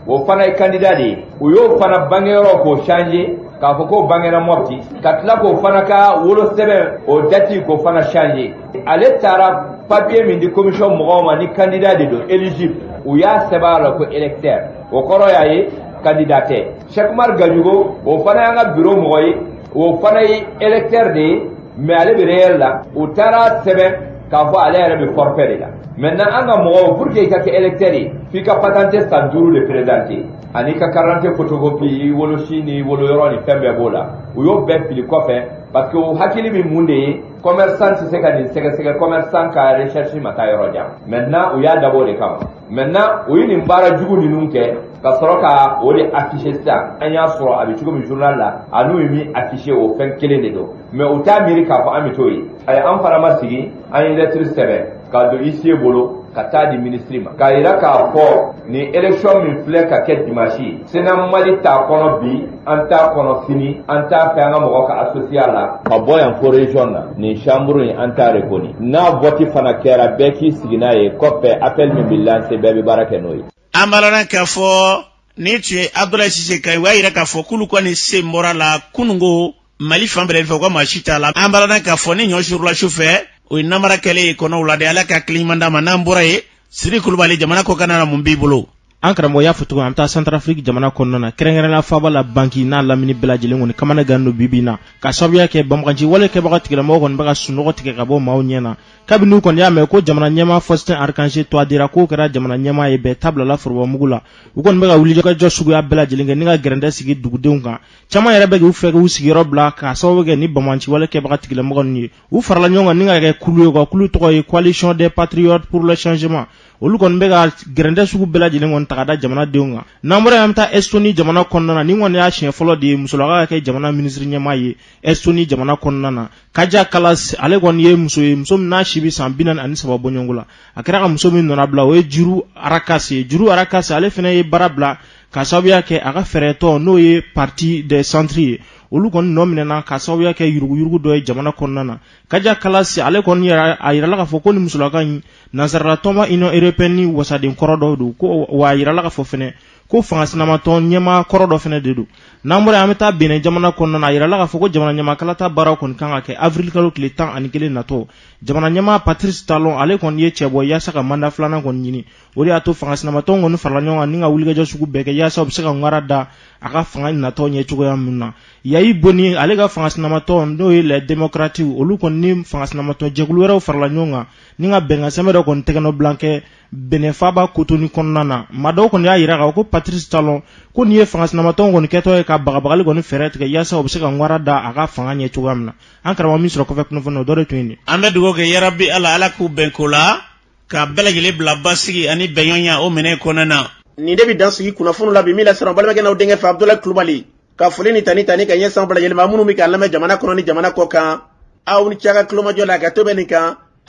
o fana ye candidat de ye u y'o fana bange yɔrɔ k'o changer k'a fɔ k'o bangena mɔpti ka tila k'o fana ka wolo sɛbɛn o dati k'o fana changer ale taara papiye min di commission mɔgɔw ma ni candidat de don éligible u y'a sɛbɛn a la ko électeur o kɔrɔ y'a ye candidat tɛ sɛkumar gajugo o fana y'an ka biro mɔgɔ ye o fana ye électeur de ye mais ale bɛ réel la u taar'a sɛbɛn k'a fɔ ale yɛrɛ bɛ forfait de la maintenant an ka mɔgɔw pour que i ka kɛ électeur ye f'i ka patante san duuru de présenter ani i ka karante fotokopi i wolosi ni woloyɔrɔ ni fɛn bɛɛ b'o la u y'o bɛɛ fili kɔfɛ parce que o hakili bɛ mun de ye commerçant tɛ se ka nin sɛgɛsɛgɛ commerçant ka recherche ma taa yɔrɔ jan maintenant u y'a dabɔ o de kama maintenant u ye nin baara jugu ninnu kɛ ka sɔrɔ ka o de afficher sisan an y'a sɔrɔ a bɛ cogo min journal la a n'u ye min afficher o fɛn kelen de don mais u t'a miiri k'a fɔ an bɛ t'o ye a ye an fana ma sigi an ye lettre sɛbɛn k'a don huissier bolo ka taa di minisiri ma k'a yira k'a fɔ nin élection min filɛ ka kɛ dimanche sena mali t'a kɔnɔ bi an t'a kɔnɔ sini an t'a fɛ an ka mɔgɔ ka associer a la ka bɔ yan fo region na nin chambre in an t'a reconnu n'a vɔti fana kɛra bɛɛ k'i sigi n'a ye kɔfɛ appel min bɛ lancer bɛɛ bɛ baara kɛ n'o ye an balana k'a fɔ nin tun ye abdulayi sise kan ye o y'a yira k'a fɔ k'olu kɔni sen bɔr'a la kunungo mali fan bɛɛ fɛ u ka maa si t'a la an balana k'a fɔ ni ɲɔ surula su fɛ o ye namara kɛlen ye kɔnɔw la de ala ka hakili ɲuman d'an ma n'an bɔra yen siri kulubali jamana kɔkanna na mun b'i bolo an karamɔgɔ y'a fɔ cogo an bɛ taa santarafiriki jamana kɔnɔna na kɛrɛnkɛrɛnla faaba la bangi n'a lamini bɛɛ lajɛlen kɔni kamana gan don bi bi in na ka sababuya kɛ banbaganci wale kɛbaga tigilamɔgɔ kɔni bɛ ka sunɔgɔ tigɛ ka bɔ maaw ɲɛ na kabini kɔni y'a mɛn ko jamana ɲɛmaa fɔsitɛn arikanse twadira k'o kɛra jamana ɲɛmaa ye bɛɛ ta bilala forobamugu la u kɔni bɛ ka wulikajɔ suguya bɛɛ lajɛlen kɛ ni ka gɛrɛndɛ sigi dugudenw kan caman yɛrɛ bɛ k'u fɛ k'u sigiyɔrɔ bila k'a sababu kɛ nin banbaganci wale kɛbaga tigilamɔgɔ ninnu ye u farala ɲɔgɔn kan ni ka kɛ kulu ye u ka kulu tɔgɔ ye coalition des patriotes pour le changement olu kɔni bɛ ka gɛrɛntɛ sugu bɛɛ lajɛlen kɔni ta ka da jamanadenw kan n'an bɔra yan an bɛ taa Estonie jamana kɔnɔna na nin kɔni y'a siɲɛ fɔlɔ de ye musolaka ka kɛ jamana minisiri ɲɛmaa ye Estonie jamana kɔnɔna na Kaja Kallas ale kɔni ye muso ye muso min n'a si bɛ san bi naani ani saba bɔɲɔgɔnko la a kɛra ka muso min nɔnna bila o ye Jüri Ratas ye Jüri Ratas ale fana ye baara bila ka sababuya kɛ a ka fɛɛrɛtɔn n'o ye parti des centres ye olu kɔni nɔ minɛna ka sababuya kɛ yuruguyurugu dɔ ye jamana kɔnɔna na kaja kallas ale kɔni yɛrɛ a yirala k'a fɔ ko nin musolaka in nansaralatɔnba union européenne ni wasaden kɔrɔ dɔ don ko wa a yirala k'a fɔ fɛnɛ ko fangasinamatɔn ɲɛmaa kɔrɔ dɔ fɛnɛ de don n'an bɔra an bɛ taa benin jamana kɔnɔna na a yirala k'a fɔ ko jamana ɲɛmaa kalata baaraw kɔni kan ka kɛ avril kalo tile tan ani kelen natɔ jamana ɲɛmaa patrice talon ale kɔni y'i cɛbɔ yaasa ka manda filanan kɔni ɲini o de y'a to fanga sinamatɔn kɔni farala ɲɔgɔn kan ni ka wulikajɔ sugu bɛɛ kɛ yaasa u bɛ se ka ŋara da a ka fanga natɔ ɲɛ cogoya min na yayi boni ale ka fanga sinamatɔn n'o ye les démocrates olu kɔni ni fanga sinamatɔn jɛkulu wɛrɛw farala ɲɔgɔn kan ni ka bɛnkan sɛbɛn dɔ kɔni tɛgɛnɔbila kɛ benin faaba kotonu kɔnɔna na maa dɔw kɔni y'a jira ko patrice talon ko nin ye fanga sinamatɔn kɔni kɛtɔ ye ka bagabagali kɔni fɛɛrɛ tigɛ yaasa u bɛ se ka ŋara da a ka fanga ɲɛ cogoya min na an karamɔgɔ min sɔrɔ kɔfɛ kunnafoni o dɔ de tun ye nin an bɛ dugawu kɛ yarabi ala ala k'u bɛn ko la ka bɛɛ lajɛlen bila basigi ani bɛnɲɔgɔnya o minɛ kɔnɔna na nin de bɛ dan sigi kunnafoniw la bi min lasera aw balimakɛ n'aw denkɛ fɛ abudulayi kulubali ka foli ni tanu tanu ka ɲɛsin bɛɛ lajɛlen ma minnu bɛ k'an lamɛn jamana kɔnɔ ni jamana kɔ kan aw ni ce aw ka tulomajɔ la ka to bɛ nin kan